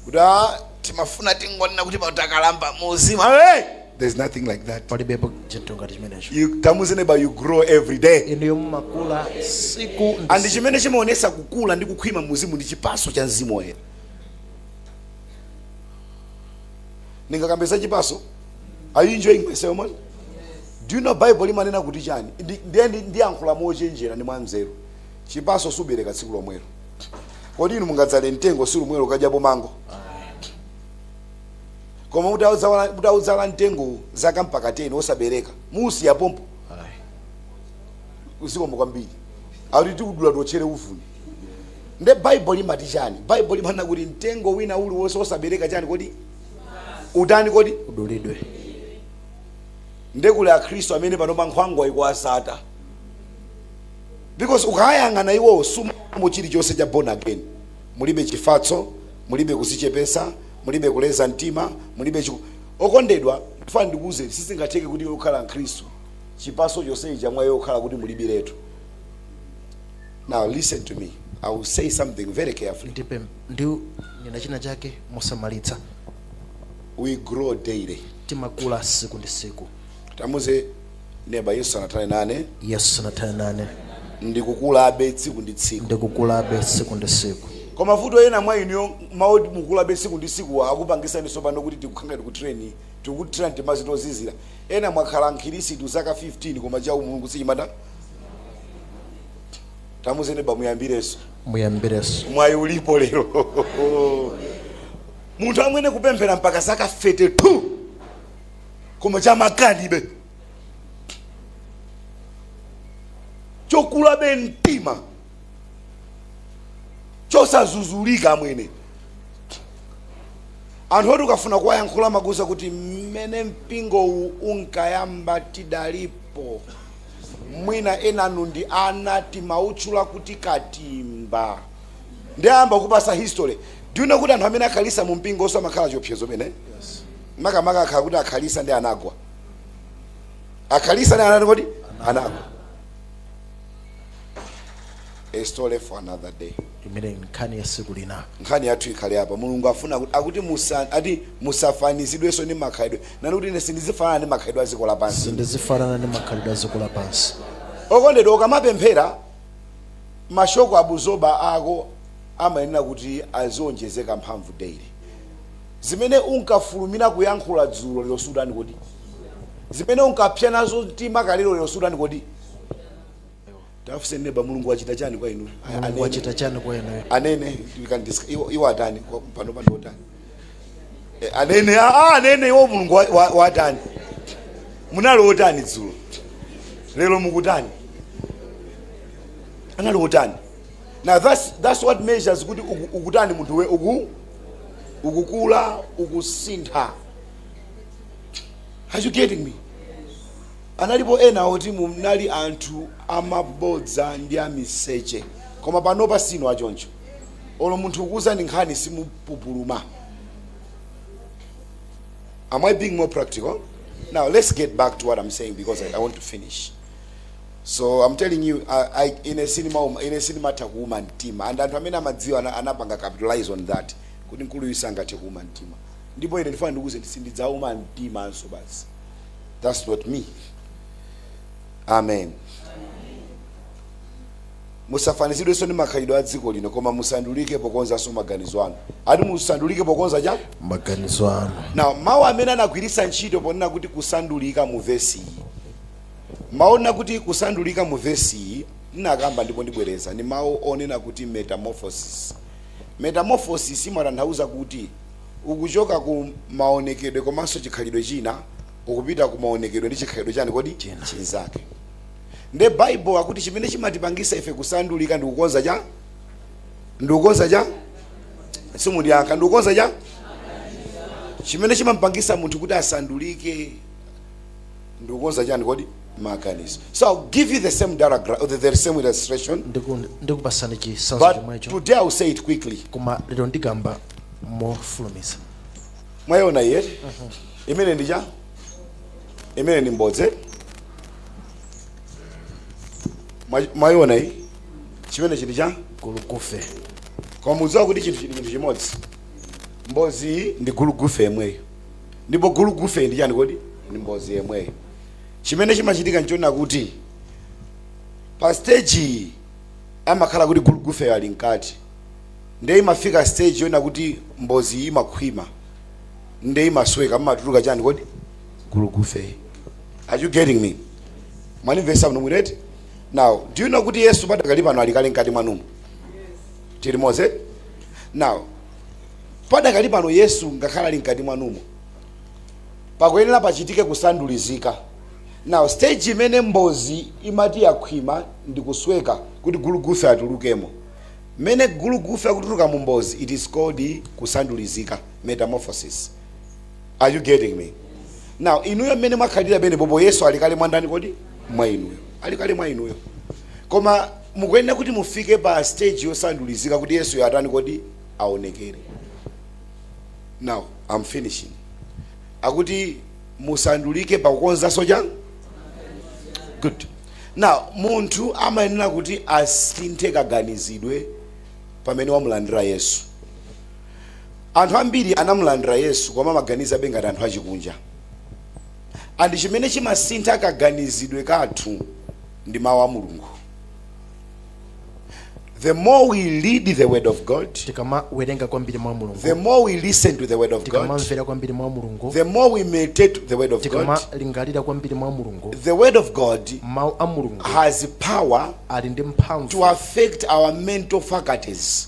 kuti "Ah, timafuna tingonena kuti papa takalamba mu uzimu hey! there's nothing like that palibepo chinthu ngati chimenecho you, tamuze neba you grow every day inuyo mumakula siku ndi and siku. chimene chimaonetsa kukula ndi kukhwima mu uzimu ndi chipaso cha mzimu woyera ndingakambe za chipaso are you enjoying myself man Do you know Bible limanena kuti chani? Ndi, ndiye ndi- ndiyankhula mochenjera ndi mwanzeru. Chipaso siubereka tsiku lomwelo. Kodi inu mungadzale mtengo tsiku lomwelo nkudyapo mango? Koma mutaudzala mtengo zaka mpaka 10 osabereka. Musiya pompo uzikonda kwambiri. Akuti tikudula tochere uvuni. Nde Bible limati chani? Bible limanena kuti mtengo wina uliwonse osabereka chani kodi? Utani kodi? Udulidwe. nde kuli akhristu amene panopa nkhwangwa ikuwasata because ukayang'ana iwowo suonamo chilichonse cha born again mulibe chifatso mulibe kuzichepesa mulibe kuleza mtima mulibe chiku... okondedwa ndifuna ndikuwuzeni sizingatheke kuti iwe ukhale mkhristu chipaso chonsechi cha mwa iwe kukhala kuti mulibiretu now listen to me i will say something very carefully ndipo ndinena china chake mosamalitsa we grow daily timakula tsiku ndi tsiku tamuuze neba yesu sanathane nane yesu sanathane nane ndikukulabe tsiku ndi tsiku ndikukulabe tsiku ndi tsiku koma vuto ena mwa inuyo mawu oti mukulabe tsiku ndi tsiku akupangisani tsopano kuti tikukhanga tikutreni tikukuthira mtimazi tozizira ena mwakhala mkhirisitu zaka 15 koma cha umulungu sichimatha tamuuze neba muyambirenso muyambirenso mwayi ulipo lero munthu amwene kupemphera mpaka zaka 32 koma chamakani be chokula be mtima chosazuzulika amwene anthu oti ukafuna kuwayankhula amakuuza kuti mmene mpingowu unkayamba tidalipo mwina enanu ndi ana timawatchula kuti katimba nde ayamba kukupasa history do you know kuti anthu amene akhalisa mu mpingo omweso amakhala chiopsezo pena makamaka akakhala kuti akhalisa ndi anagwa akhalisa ndi anatani kodi anagwa a story for another day imeneyo nkhani ya siku lina nkhani yathu ikhale apa mulungu afuna kuti- akuti musa ati musafanizidwenso ndi makhalidwe nenani kuti ine sindizifanana ndi makhalidwe a dziko lapansi sindizifanana ndi makhalidwe a dziko lapansi okondedwa ukamapemphera ma shock abuzoba ako amayenera kuti azionjezeka mphamvu daily. zimene unkafulumira kuyankhula dzulo lero sutani kodi? zimene unkapsa nazo mtima kalelo lero sutani kodi? tafuse neba mulungu wachita chani kwa inu mulungu wachita chani kwa inu anene iwo atani pano pano otani Eh, anene ah, ah, anene iwo mulungu wa- wa- watani munali otani dzulo lero mukutani anali otani now that's, that's what measures kuti uku- ukutani munthu iwe uku ukukula ukusintha are you getting me analipo ena oti munali anthu amabodza ndi amiseche koma panopa sinu achoncho olo munthu akuuzeni nkhani simu kupupuluma. Am I being more practical? Now let's get back to what I'm saying because I, I want to finish. So I'm telling you, I, I, ine sindima, um, ine sindimatha kuuma mtima, and anthu amene amadziwa ana- anapanga capitalize on that kuti mkulu uyu sangathe kuuma mtima. Ndipo ine ndifuna ndikuuzeni sindidzauma mtima ayinso basi. That's not me. Amen. Musafanizidwenso ndi makhalidwe a dziko lino, koma musandulike pokonzanso maganizo anu. Ati musandulike pokonza chani? Maganizo anu. Now, mau amene anagwiritsa ntchito ponena kuti kusandulika mu vesi iyi. Mau onena kuti kusandulika mu vesi iyi, ndinakamba ndipo ndibwereza, ndi mau onena kuti metamorphosis. Metamorphosis imatanthauza kuti ukuchoka ku maonekedwe komanso chikhalidwe china ukupita ku maonekedwe ndi chikhalidwe chani kodi? Chinzake. nde bible akuti chimene chimatipangisa ife kusandulika ndikukonza cha ndikukonza cha simundiyankha ndikukonza cha chimene chimampangisa munthu kuti asandulike ndikukonza chani kodi maganizo so i'll give you the same diagram the, the same illustration Ndiku- ndikupasani chisanzo chomwecho but today i'll say it quickly koma lero ndikamba mofulumiza mwayiona iyi imeneyi ndi cha imeneyi ndi mbozi Mwa- mwayiona iyi chimenechi ndi cha gulugufe koma mukudziwa kuti chinthuchi ndi chinthu chimodzi mbozi iyi ndi gulugufe yemweyo ndipo gulugufeyu ndi chani kodi ndi mbozi yemweyo chimene chimachitika nchonena kuti pa stage iyi amakhala kuti gulugufeyo ali mkati nde imafika stage yonena kuti mbozi iyi imakhwima nde imasweka amatuluka chani kodi gulugufe are you getting me mwanimvesa bwino bwino eti now do you know kuti yesu padakali pano ali kale mkati mwanumo tili limodzi now padakali pano yesu ngakhale ali mkati mwanumo pakuyenera pachitike kusandulizika now stage imene mbozi imati yakhwima ndi kusweka kuti gulugufe atulukemo mmene gulugufe akutuluka mu mbozi it is called kusandulizika metamorphosis are you getting me now inuyo mmene mwakhalira penepapo yesu ali kale mwa ndani kodi mwa inuyo ali kale mwa inuyo koma mukuyenera kuti mufike pa stage yosandulizika kuti yesuyo atani kodi aonekere now i'm finishing akuti musandulike pakukonzanso chani good now munthu amayenera kuti asinthe kaganizidwe pamene wamulandira yesu Anthu ambiri anamulandira Yesu koma amaganizabe ngati anthu achikunja. And chimene chimasintha kaganizidwe kathu ndi mawu a Mulungu. The more we read the word of God, tikamawerenga kwambiri mawu a Mulungu, the more we listen to the word of God, tikamamvera kwambiri mawu a Mulungu, the more we meditate the word of God, tikamalingalira kwambiri mawu a Mulungu, the word of God mawu a Mulungu has power ali ndi mphamvu to affect our mental faculties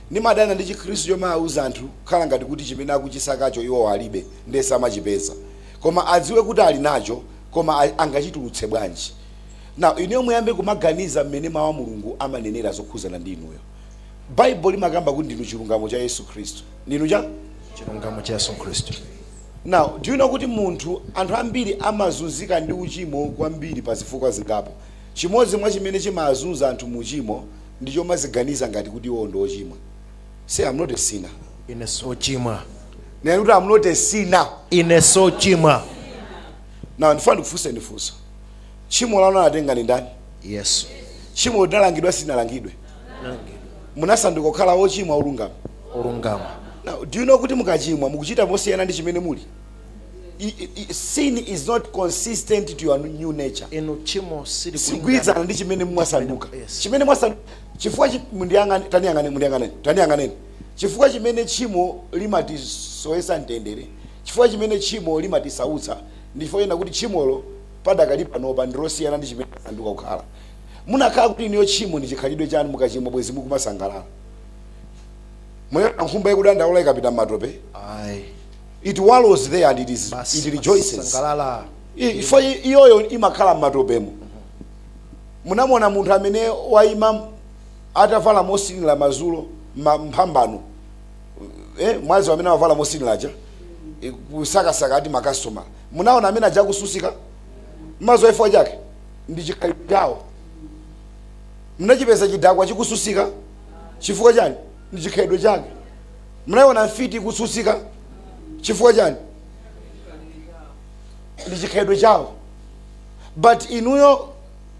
Ndimadana ndi chikhristu chomawauza anthu kukhala ngati kuti chimene akuchisakacho iwowo alibe nde samachipeza koma adziwe kuti ali nacho koma angachitulutse bwanji? Now inuyo muyambe kumaganiza mmene mau a Mulungu amanenera zokhudzana ndi inuyo. Bible limakamba kuti ndinu chilungamo cha Yesu Khristu. Ndinu cha? Chilungamo cha Yesu Khristu. Now do you know kuti munthu, anthu ambiri amazunzika ndi uchimo kwambiri pa zifukwa zingapo. Chimodzi mwa chimene chimaazunza anthu mu uchimo ndi chomaziganiza ngati kuti iwowo ndi ochimwa. Say, I'm not a sinner. Ine si ochimwa. Nena kuti I'm not a sinner. Ine si ochimwa. Now ndifuna ndikufunse ndi funso. Tchimo lanu anatenga ndi ndani? Yesu. Tchimo linalangidwa silinalangidwe? Nangidwa. Munasanduka kukhala ochimwa olungama. Olungama. Now, do you know kuti mukachimwa mukuchita mosiyana ndi chimene muli? sin is not consistent to your new nature inde tchimo sili siligwirizana ndi chimene mwasanduka Yes. chimene mwasanduka chifukwa chi- mundiyang'ane taniyang'ane mundiyang'ane taniyang'aneni chifukwa chimene tchimo limatisowetsa mtendere chifukwa chimene tchimo limatisautsa ndi chifukwa chonena kuti tchimolo padakali panopa ndi losiyana ndi chimene mwasanduka kukhala munakakhala kuti inuyo tchimo ndi chikhalidwe chanu mukachimwa bwezi mukumasangalala munaiona nkhumba ikudandaula ikapita m'matope ayi It wallows there and it is Basi, it rejoices. imasangalala. I- Ifo i- iyoyo imakhala m'matopemo. Munamuona munthu amene waima atavala mothinira madzulo ma- mphambano. Eh, mwadziwa amene amavala mothinira aja. eh, Kusakasaka ati makasitoma. Munaona amene aja akutsutsika? Madziwa chifukwa chake ndi chikhalidwe chawo. Munachipeza chidakwa chikutsutsika chifukwa chani? Ndi chikhalidwe chake. munaiona mfiti ikutsutsika chifukwa chani ndi chikhalidwe chawo but inuyo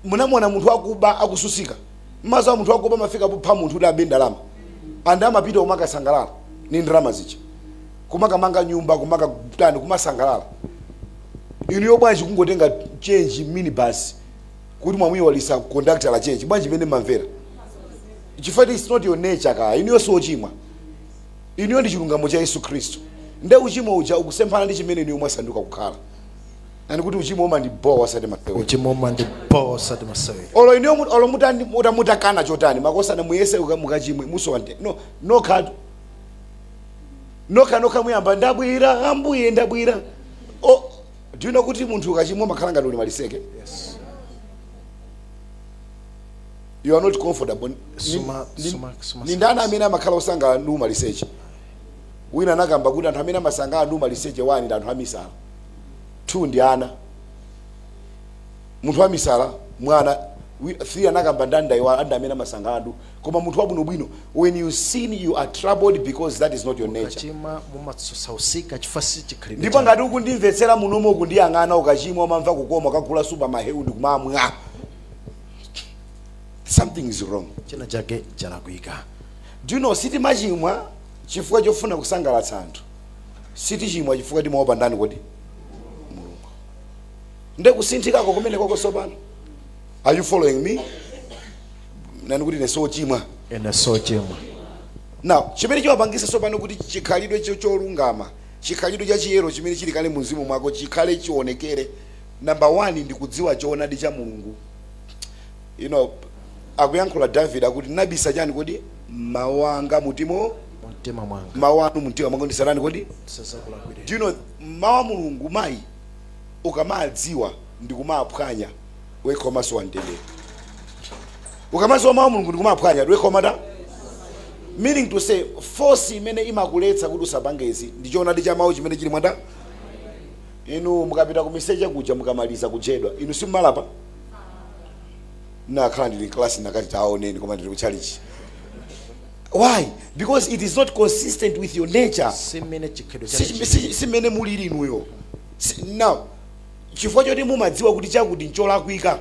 munamuona munthu akuba akuzunzika m'malo mwake munthu akuba amafika popha munthu kuti abe ndalama and amapita kumakasangalala ni ndalama zija kumakamanga nyumba kumakatani kumasangalala inuyo bwanji kungotenga change minibus kuti mwamuyiwalisa conductor za change bwanji mmene mumamvera chifukwa it is not your nature kaya inuyo si ochimwa inuyo ndi chilungamo cha yesu khristu nde uchimo uja ukusemphana ndi chimene inuyo mwasanduka kukhala nenani kuti uchimo umandibowa osati masewera uchimo umandibowa osati masewera olo inuyo mu- olo mutani- muta- mutakana chotani makosana muyese uka- mukachimwe musowa mtendere nokhatu nokha nokha muyamba ndabwera ambuye ndabwera o do you know kuti munthu ukachimwa umakhala ngati uli maliseche yes. you are not comfortable Ni- Suma- ni- suma- suma- ni ndani amene amakhala osangalala ndi umaliseche wina anakamba kuti anthu amene amasangalala ndi umaliseche one ndi anthu amisala two ndi ana munthu wamisala mwana wi- three anakamba ndani ndayiwala ndi amene amasangalala ndi koma munthu wabwinobwino when you sin you are troubled because that is not your nature mukachimwa mumasautsika chifukwa si chikhalidwe ndipo chanu. ngati ukundimvetsera munomo ukundiyang'ana ukachimwa umamva kukoma ukagula super mahewu ndi kumamwa something is wrong china chake chalakwika do you know sitimachimwa chifukwa chofuna kusangalatsa anthu sitichimwa chifukwa timaopa ndani kodi mulungu nde kusinthikako kumene kwako sopano are you following me nenani kuti ine si ochimwa ine si ochimwa now chimene chimapangisa sopano kuti chikhalidwe cho- cholungama chikhalidwe cha chiyero chimene chili kale mu mzimu mwako chikhale chionekere number one ndi kudziwa choonadi cha mulungu you know akuyankhula david akuti nabisa chani kodi mawu anga mumtima mwanga mawu anu mumtima mwanga ndisatani kodi ndisazakulakwire do you know mawu a mulungu mayi ukamadziwa ndikumaphwanya wekha umasowa mtendere ukamadziwa mawu a mulungu ndikumaphwanya wekha umatani meaning to say force imene imakuletsa kuti usapange izi ndi choonadi cha mawu chimene chili mwa ndani Inu mukapita kumiseche kuja mukamaliza kujedwa, inu simumalapa? Ndinakhala ndili m'kalasi ndinakati taoneni koma ndili kutchalichi. Why? Because it is not consistent with your nature. Si mmene chikhalidwe chake Si- chili. si- si mmene mulili inuyo. Si- Now, chifukwa choti mumadziwa kuti chakuti ncholakwika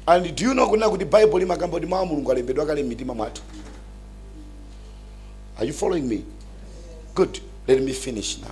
and do you know kunena kuti bible limakamba kuti mawu a mulungu alembedwa kale m'mitima mwathu are you following me good let me finish now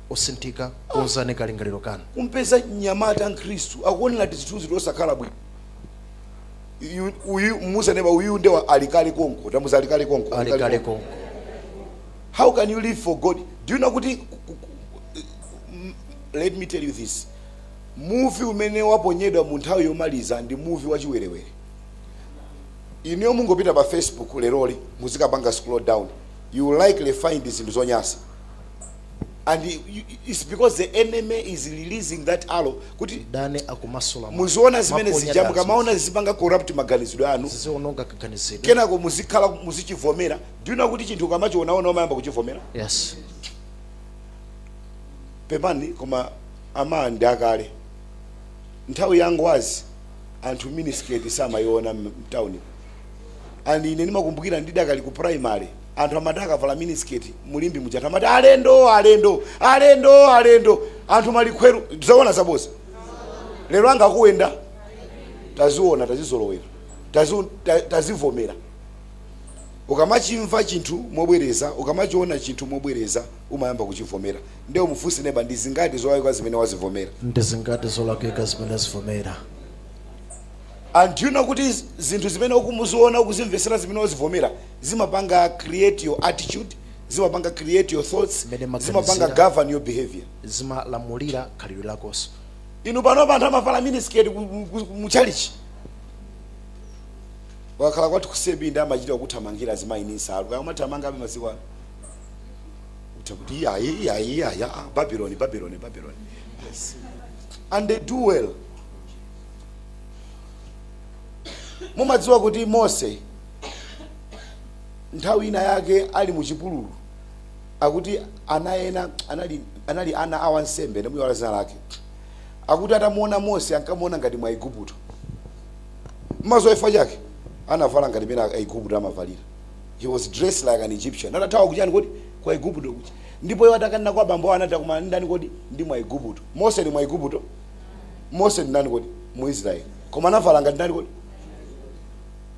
osinthika, konzani kalingaliro kanu. Kumpeza mnyamata mkhristu akuonera tizithunzi tosakhala bwino Yu- uyu muuze neba uyu nde wa ali kale konko tamuuza ali kale konko ali kale konko how can you live for god do you know kuti ku- ku- ku- m- let me tell you this muvi umene waponyedwa mu nthawi yomaliza ndi muvi wachiwerewere ineyo mungopita pa facebook leroli muzikapanga scroll down you will likely find zinthu zonyasa and you- you- it's because the enemy is releasing that arrow kuti mdani akumasula muvi. muziona zimene amaponya zija dazi. mukamaona zizipanga corrupt maganizidwe anu ziziononga kaganizidwe kenako muzikhala muzichivomera do you know kuti chinthu ukamachionaona umayamba kuchivomera yes pepani koma ama ndi kale nthawi ya Ngwazi anthu minisketi samayiona mtawuni and ine ndimakumbukira ndidakali ku primary anthu amati akavala minisketi mu Limbe muja anthu amati alendo alendo alendo alendo anthu malikhweru zoona zaboza lero anga akuyenda taziona tazizolowera tazi- ta- tazivomera ukamachimva chinthu mobwereza ukamachiona chinthu mobwereza umayamba kuchivomera nde umufunse neba ndi zingati zolakwika zimene wazivomera ndi zingati zolakwika zimene wazivomera and you know kuti zinthu zimene ukumuziona ukuzimvesera zimene wazivomera zimapanga create your attitude zimapanga create your thoughts Mmene mumaganizira. zimapanga govern your behavior zimalamulira khalidwe lako so inu panopa anthu amavala minisketi muchalichi wakhala kwathu kusebi ndi amachita kuthamangira azimayi ndi nsalu kaya amathamangabe masiku ano utha kuti iyayi iyayi iyayi ah, babiloni babiloni babiloni yes. and they do well mumadziwa kuti mose nthawi ina yake ali mu chipululu akuti ana ena anali, anali ana a wansembe ndamuiwala dzina lake akuti atamuona mose ankamuona ngati Mwiigupto maso chifukwa chake anavala ngati mene aigupto amavalira he was dressed like an egyptian atathawa kuchani kodi kwa igupto kuja ndipo iwo atakanena kwa bambo awo anati akumana ndi ndani kodi ndi Mwiigupto mose ndi Mwiigupto mose ndi ndani kodi mu israeli koma anavala ngati ndani kodi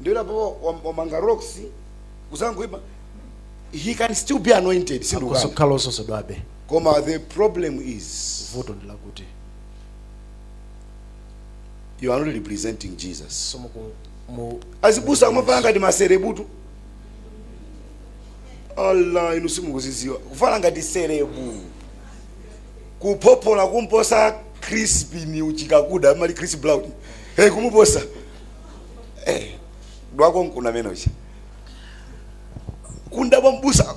ndiye kuti apo wam- wamanga locks kuzangoima he can still be anointed sindikukana akukhala odzozedwabe koma the problem is vuto ndi lakuti you are not representing jesus so muku- mu- azibusa kumavala ngati maserebutu ala inu simukuzidziwa kuvala ngati serebu kuphophola kumposa chris chikakuda mali chris brown hey kumuposa eh dwako nkuna menocha kunda kwa abusa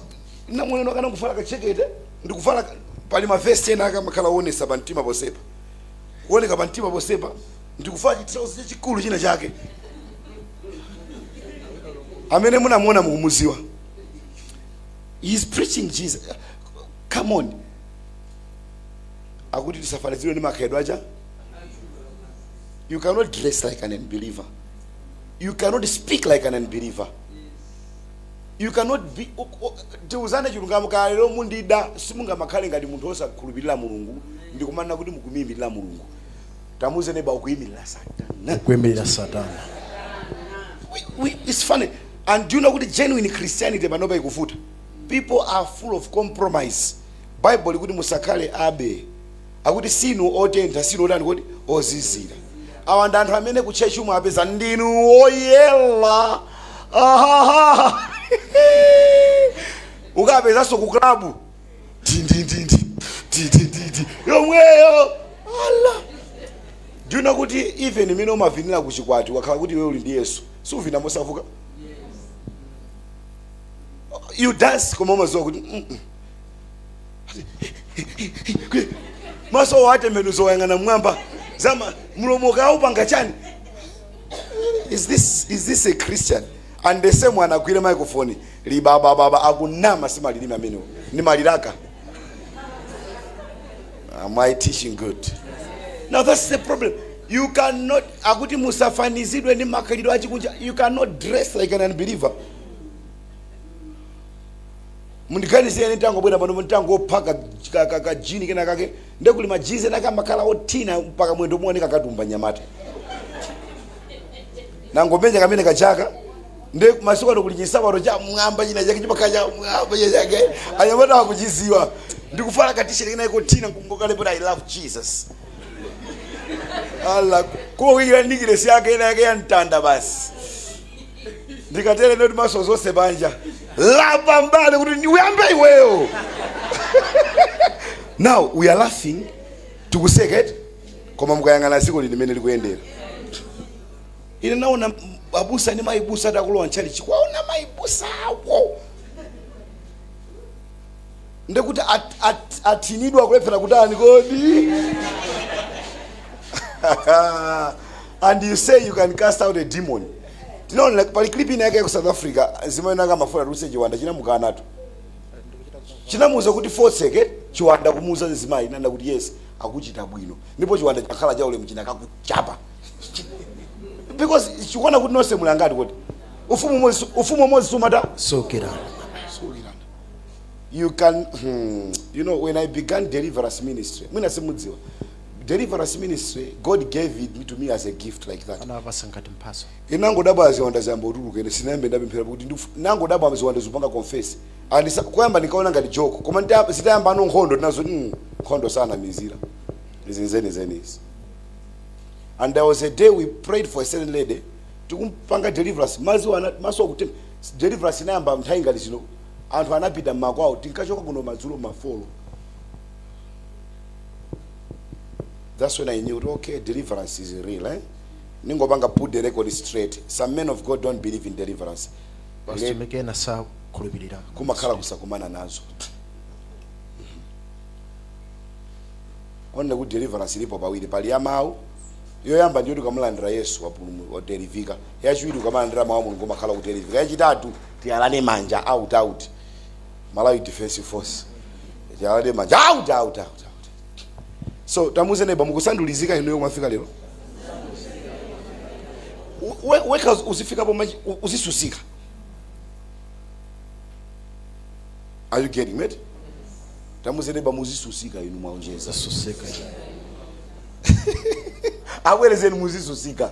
imwe mwene ndikanavala kajekete ndikuvala ka- pali mavesi ena akamakhala onesa pa mtima ponsepa kuoneka pa mtima ponsepa ndikuvala chitrauzi chachikulu china chake amene munamuona mukumuziwa he's preaching jesus come on akuti tisafanizidwe ndi makhalidwe aja You cannot dress like an unbeliever. You cannot speak like an unbeliever. You cannot be o- o- tiuzane chilungamo ka lero mundida simungamakhale ngati munthu osakhulupirira mulungu ndikumanena kuti mukumuyimirira mulungu tamuze neba ukuyimirira satana kuimirira satana we, we, it's funny and do you know kuti genuine christianity panopa ikuvuta people are full of compromise bible likuti musakhale abe akuti sinu otentha sinu otani kuti ozizira awa ndi anthu amene ku church umawapeza ndinu woyela ahaha ukapezanso ku klabu tindindindi tindindindi yomweyo ala do you know kuti even mmene umavinira ku chikwati okhala kuti iwe uli ndi yesu suvina mosavuka you dance koma umaziwa kuti mm -mm. maso watembenuza wayang'ana mwamba zama mlomo kaya wapanga chani is this is this a christian and the same one agwire microphone libabababa akunama simalilimi amenewo ni maliraka am i teaching good now that's the problem you cannot akuti musafanizidwe ni makhalidwe achikunja you cannot dress like an unbeliever Mundiganizire ine nditangobwera pano nditangovala ka, ka, ka, ka jini kena kake nde kuli majizi ena kamakhala othina mpaka mwendo kuoneka katumba nyamata nangomenya kamene kachaka nde masiku ano kuli chisabato cha mwamba china chake chimakhala cha mwamba china chake anyamata akuchiziwa ndikuvala katisheti kenaka kothina nkungokalembera i love jesus ala koma kuyikira nekilesi yake ina yake ya mtanda basi ndikatele ndithu maso onse panja lapa mbali kuti ndi- uyambe iweyo now we are laughing tikuseka eti koma mukayang'ana dziko lino mmene likuyendera ine naona m- abusa ndi maibusa akulowa ntchalichi kwaona maibusa awo ndekuti at, at, atinidwa kulephera kutani kodi and you say you can cast out a demon tinaonera pali clip ina yake ku south africa zimene akamafuna atuluse chiwanda chinamukanatu chinamuuza kuti fotseke chiwanda kumuuza mzimayi nanda kuti yes akuchita bwino ndipo chiwanda chakhala cha ulemu chinakakuchapa because chikuona kuti nonse muli ngati kuti ufumu umodzi- ufumu umodzi sumatha sokera you can hmm, you know when i began deliverance ministry mwina simudziwa deliverance ministry god gave it to me as a gift like that anawapasa ngati mphaso inangodabwa ziwanda zayamba kutuluka ine sindinayambe ndapemphera kuti ndif- nangodabwa ziwanda zikupanga confess and sa- kuyamba ndinkaona ngati joke koma ndita- zitayamba ano nkhondo tinazo mm, nkhondo sanamizira izi nzenizeni izi and there was a day we prayed for a certain lady tikumpanga deliverance maziwa ana- maso akuti deliverance inayamba nthawi ngati zino Anthu anapita mmakwawo tinkachoka kuno madzulo ma folo that's when I knew kuti okay deliverance is real eh? ningopanga put the record straight some men of God don't believe in deliverance Let- ena sakhulupirira kumakhala kusakumana nazo only kuti deliverance ilipo pawiri pali ya mawu yoyamba ndiyo tikamulandira yesu wapulumu- wadelivika yachiwiri ukamalandira mawu a mulungu umakhala kudelivika yachitatu Tiyalane manja out out Malawi Defensive Force tiyalane manja out out out out so tamuze neba mukusandulizika inuyo mwafika lero We- wekha uzi- uzifikapo machi- u- uzisusika are you getting it tamuze neba muzisusika inu mwaonjeza Susika. abwerezeni muzisusika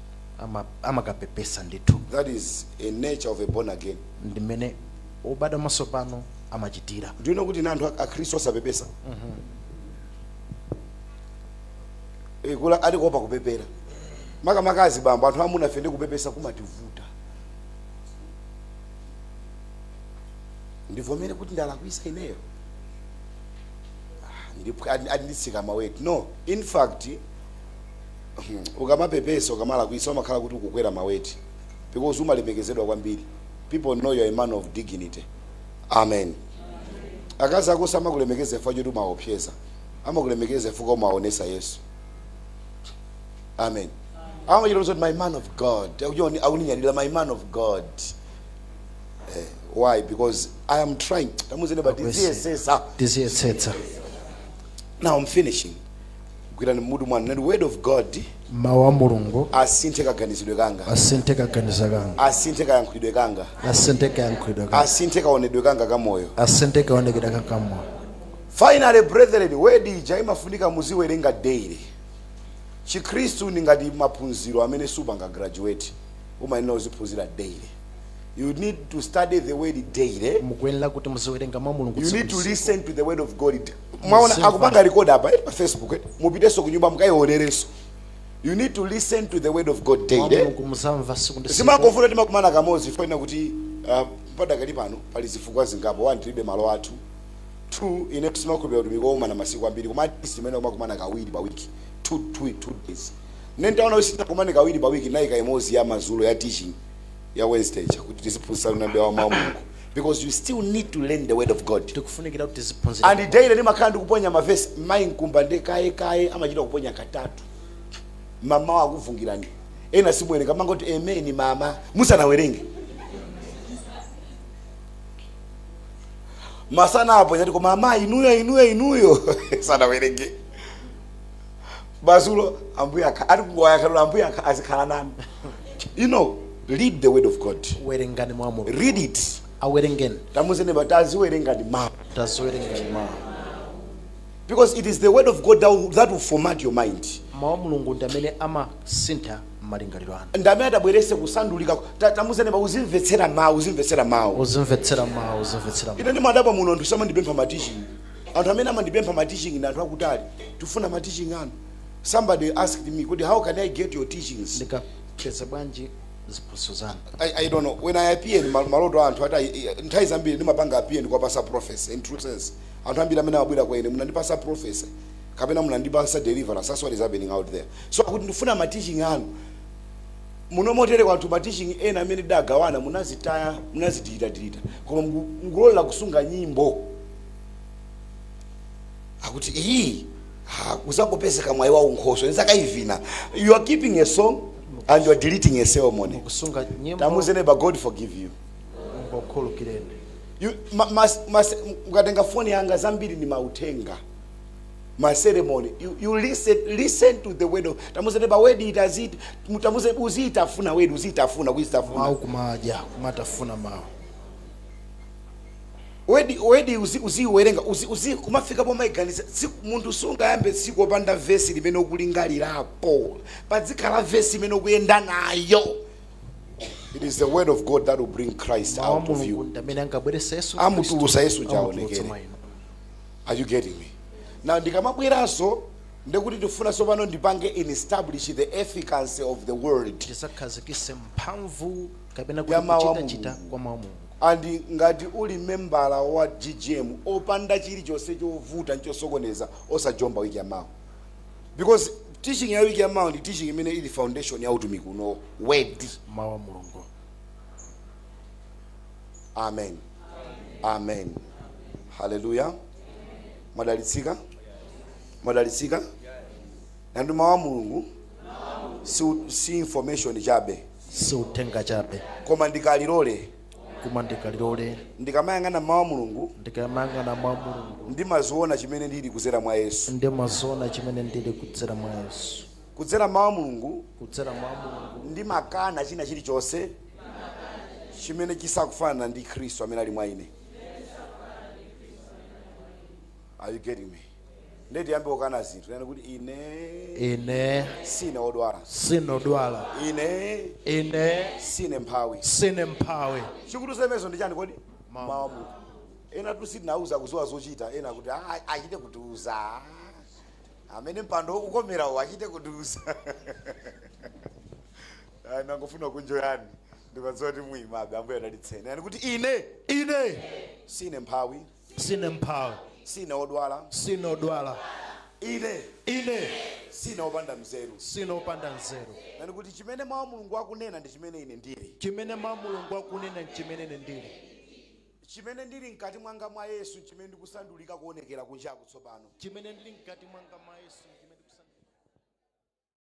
ama- amakapepesa ndithu That is a nature of a born again. ndimene obadwa mwatsopano amachitira Do you know kuti ndi anthu akhristu osapepesa? Eh, kula ali kuopa kupepera. Makamaka azibambo anthu amunafe nde kupepesa kumativuta. Ndivomere kuti ndalakwisa ineyo. Ah, ndipwa- adi- ati nditsika maweti. No, in fact ukamapepesa ukamalakwisa umakhala kuti ukukwera maweti because umalemekezedwa kwambiri people know you're a man of dignity amen akazi ako samakulemekeza chifukwa choti umaopseza amakulemekeza chifukwa umaonesa yesu amen amachita kuti my man of god akuchoni akuninyadira my man of god eh, why because i am trying tamuuzeni but Akwese. ndiziyesesa Ndiziyetsetsa. now i'm finishing gwirani mmutu mwanu muti word of god mawu a mulungu asinthe kaganizidwe kanga asinthe kaganiza kanga asinthe kayankhulidwe kanga asinthe kayankhulidwe kanga asinthe kaonedwe kanga ka moyo asinthe kaonekedwe kanga ka moyo finally brethren word ija imafunika muziwerenga daily chikhristu ndi ngati maphunziro amene supanga graduate umayenera uziphunzira daily you need to study the word daily mukuyenera kuti muziwerenga mawu a mulungu you tsiku need ndi to tsiku. listen to the word of god mwaona akupanga record apa eh, pa facebook eh. mupiteso kunyumba mukaionereso you need to listen to the word of god daily eh. Mulungu muzimva siku ndi siku. zimangovuta kuti timakumana kamodzi chifukwa chakuti uh, padakali pano pali zifukwa zingapo one tilibe malo athu two ine sindimakhulupira utumiki wokumana masiku ambiri koma at least imene timakumana kawiri pa wiki two, two, two days ine nditaona kuti sitikumana kawiri pa wiki naika imodzi ya mazulo ya teaching ya wednesday ija kuti tiziphunzitsa zina mbewa wa mawu a mulungu because you still need to learn the word of god tikufunikira kuti tiziphunzira and daily ndimakhala ndikuponya mavesi mayi Nkumba nde kaye kaye amachita kuponya katatu mamawa akufungirani ena simuwerenga mumangoti ameni mmawa musanawerenge masana aponya ati koma amayi inuyo inuyo inuyo sanawerenge madzulo ambuye akha ati kungowayakhalola ambuye akha azikhala nanu you know read the word of god werengani mawu a mulungu read it awerengeni tamuze neba taziwerengani mawu taziwerengani mawu because it is the word of god that will, that will format your mind mawu a mulungu ndi amene amasintha malingaliro anu ndi amene atabwerese kusandulika Ta- tamuze neba uzimvetsera mawu uzimvetsera mawu uzimvetsera mawu uzimvetsera mawu ine ndimadabwa muno ndi simandipempha matichi Anthu amene amandipempha ma teaching ndi anthu akutali. Tifuna ma teaching anu. Somebody asked me, kodi how can I get your teachings? Ndingapeze bwanji ziphunzitso zanu? I, I don't know. When I appear in mal- maloto a anthu ati I- I- nthawi zambiri ndimapanga appear ndikuwapasa prophecy in true sense. Anthu ambiri amene amabwera kwa ine munandipasa prophecy kapena munandipasa deliverance. That's what is happening out there. Zokuti ndifuna ma teaching anu muno motere kwathu ma teaching ena amene tidagawana munazitaya munazidilitadilita koma muku- mukulolera kusunga nyimbo yakuti iyi ah, kuzangopezeka mwayi wa unkhoso nizakaivina you are keeping a song and you are deleting a sermon kusunga nyimbo tamuze neighbor god forgive you Mulungu akukhulukireni You- ma- mas- mas- mukatenga foni yanga zambiri ni mauthenga ma sermon you, you listen, listen to the word of tamuze neighbor word eat it tamuze uziitafuna word uziitafuna kuitafuna mawu kumadya kumatafuna mawu word word uzi uziwerenga uzi uzi kumafika pomaiganiza munthu siungayambe tsiku opanda vesi limene ukulingalirapo padzikhala vesi imene ukuyenda nayo it is the word of god that will bring christ mawu a out of mulungu you ndi amene angabweresa yesu Amutulutsa Yesu Khristu, amutulutsa aonekere. mwa inu. are you getting me now ndikamabweranso ndikuti ndifuna tsopano ndipange establish the efficacy of the word tizakhazikise mphamvu kapena kuti Ya mawu a kuchitachita Mulungu. kwa mawu a mulungu And ngati uli membala wa ggm opanda chilichonse chovuta ndi chosokoneza osajomba week yamawa because teaching ya week yamawa ndi teaching imene ili foundation ya utumiki uno word mawu a mulungu amen amen haleluya mwadalitsika mwadalitsika nenani kuti mawu a mulungu si, si information chabe si uthenga chabe koma ndi kalilole koma ndi kalilole ndikamayang'ana m'mawu a mulungu ndikamayang'ana m'mawu a mulungu ndimaziona chimene ndili kudzera mwa yesu ndimaziona chimene ndili kudzera mwa yesu kudzera m'mawu a mulungu kudzera m'mawu a mulungu ndimakana china chilichonse chimene chisakufanana ndi khristu amene ali mwa ine are you getting me ndiye tiyambe kukana zinthu nena kuti ine ine sine odwala sine odwala ine ine sine mphawi sine mphawi chikutiuza zimenezo ndi chani kodi mawu a mulungu enatu sitinauza kuziwa zochita ena kuti "Ah, achite kutiuza amene mpando ukukomerawo achite kutiuza Ah, nangofuna kunjoyani ndimadziwa kuti muyimabe ambuye adalitseni nenani kuti ine ine sine mphawi Sine mphawi, Sine wodwala, sine odwala, ine ine sine wopanda nzeru. sine opanda nzeru. Nenani kuti chimene mawu a Mulungu akunena ndi chimene ine ndili. Chimene mawu a Mulungu akunena nchimene ine ndili. Chimene ndili mkati mwanga mwa Yesu nchimene ndikusandulika kuonekera kunjaku tsopano. Chimene ndili mkati mwanga mwa Yesu nchimene ndikusandulika.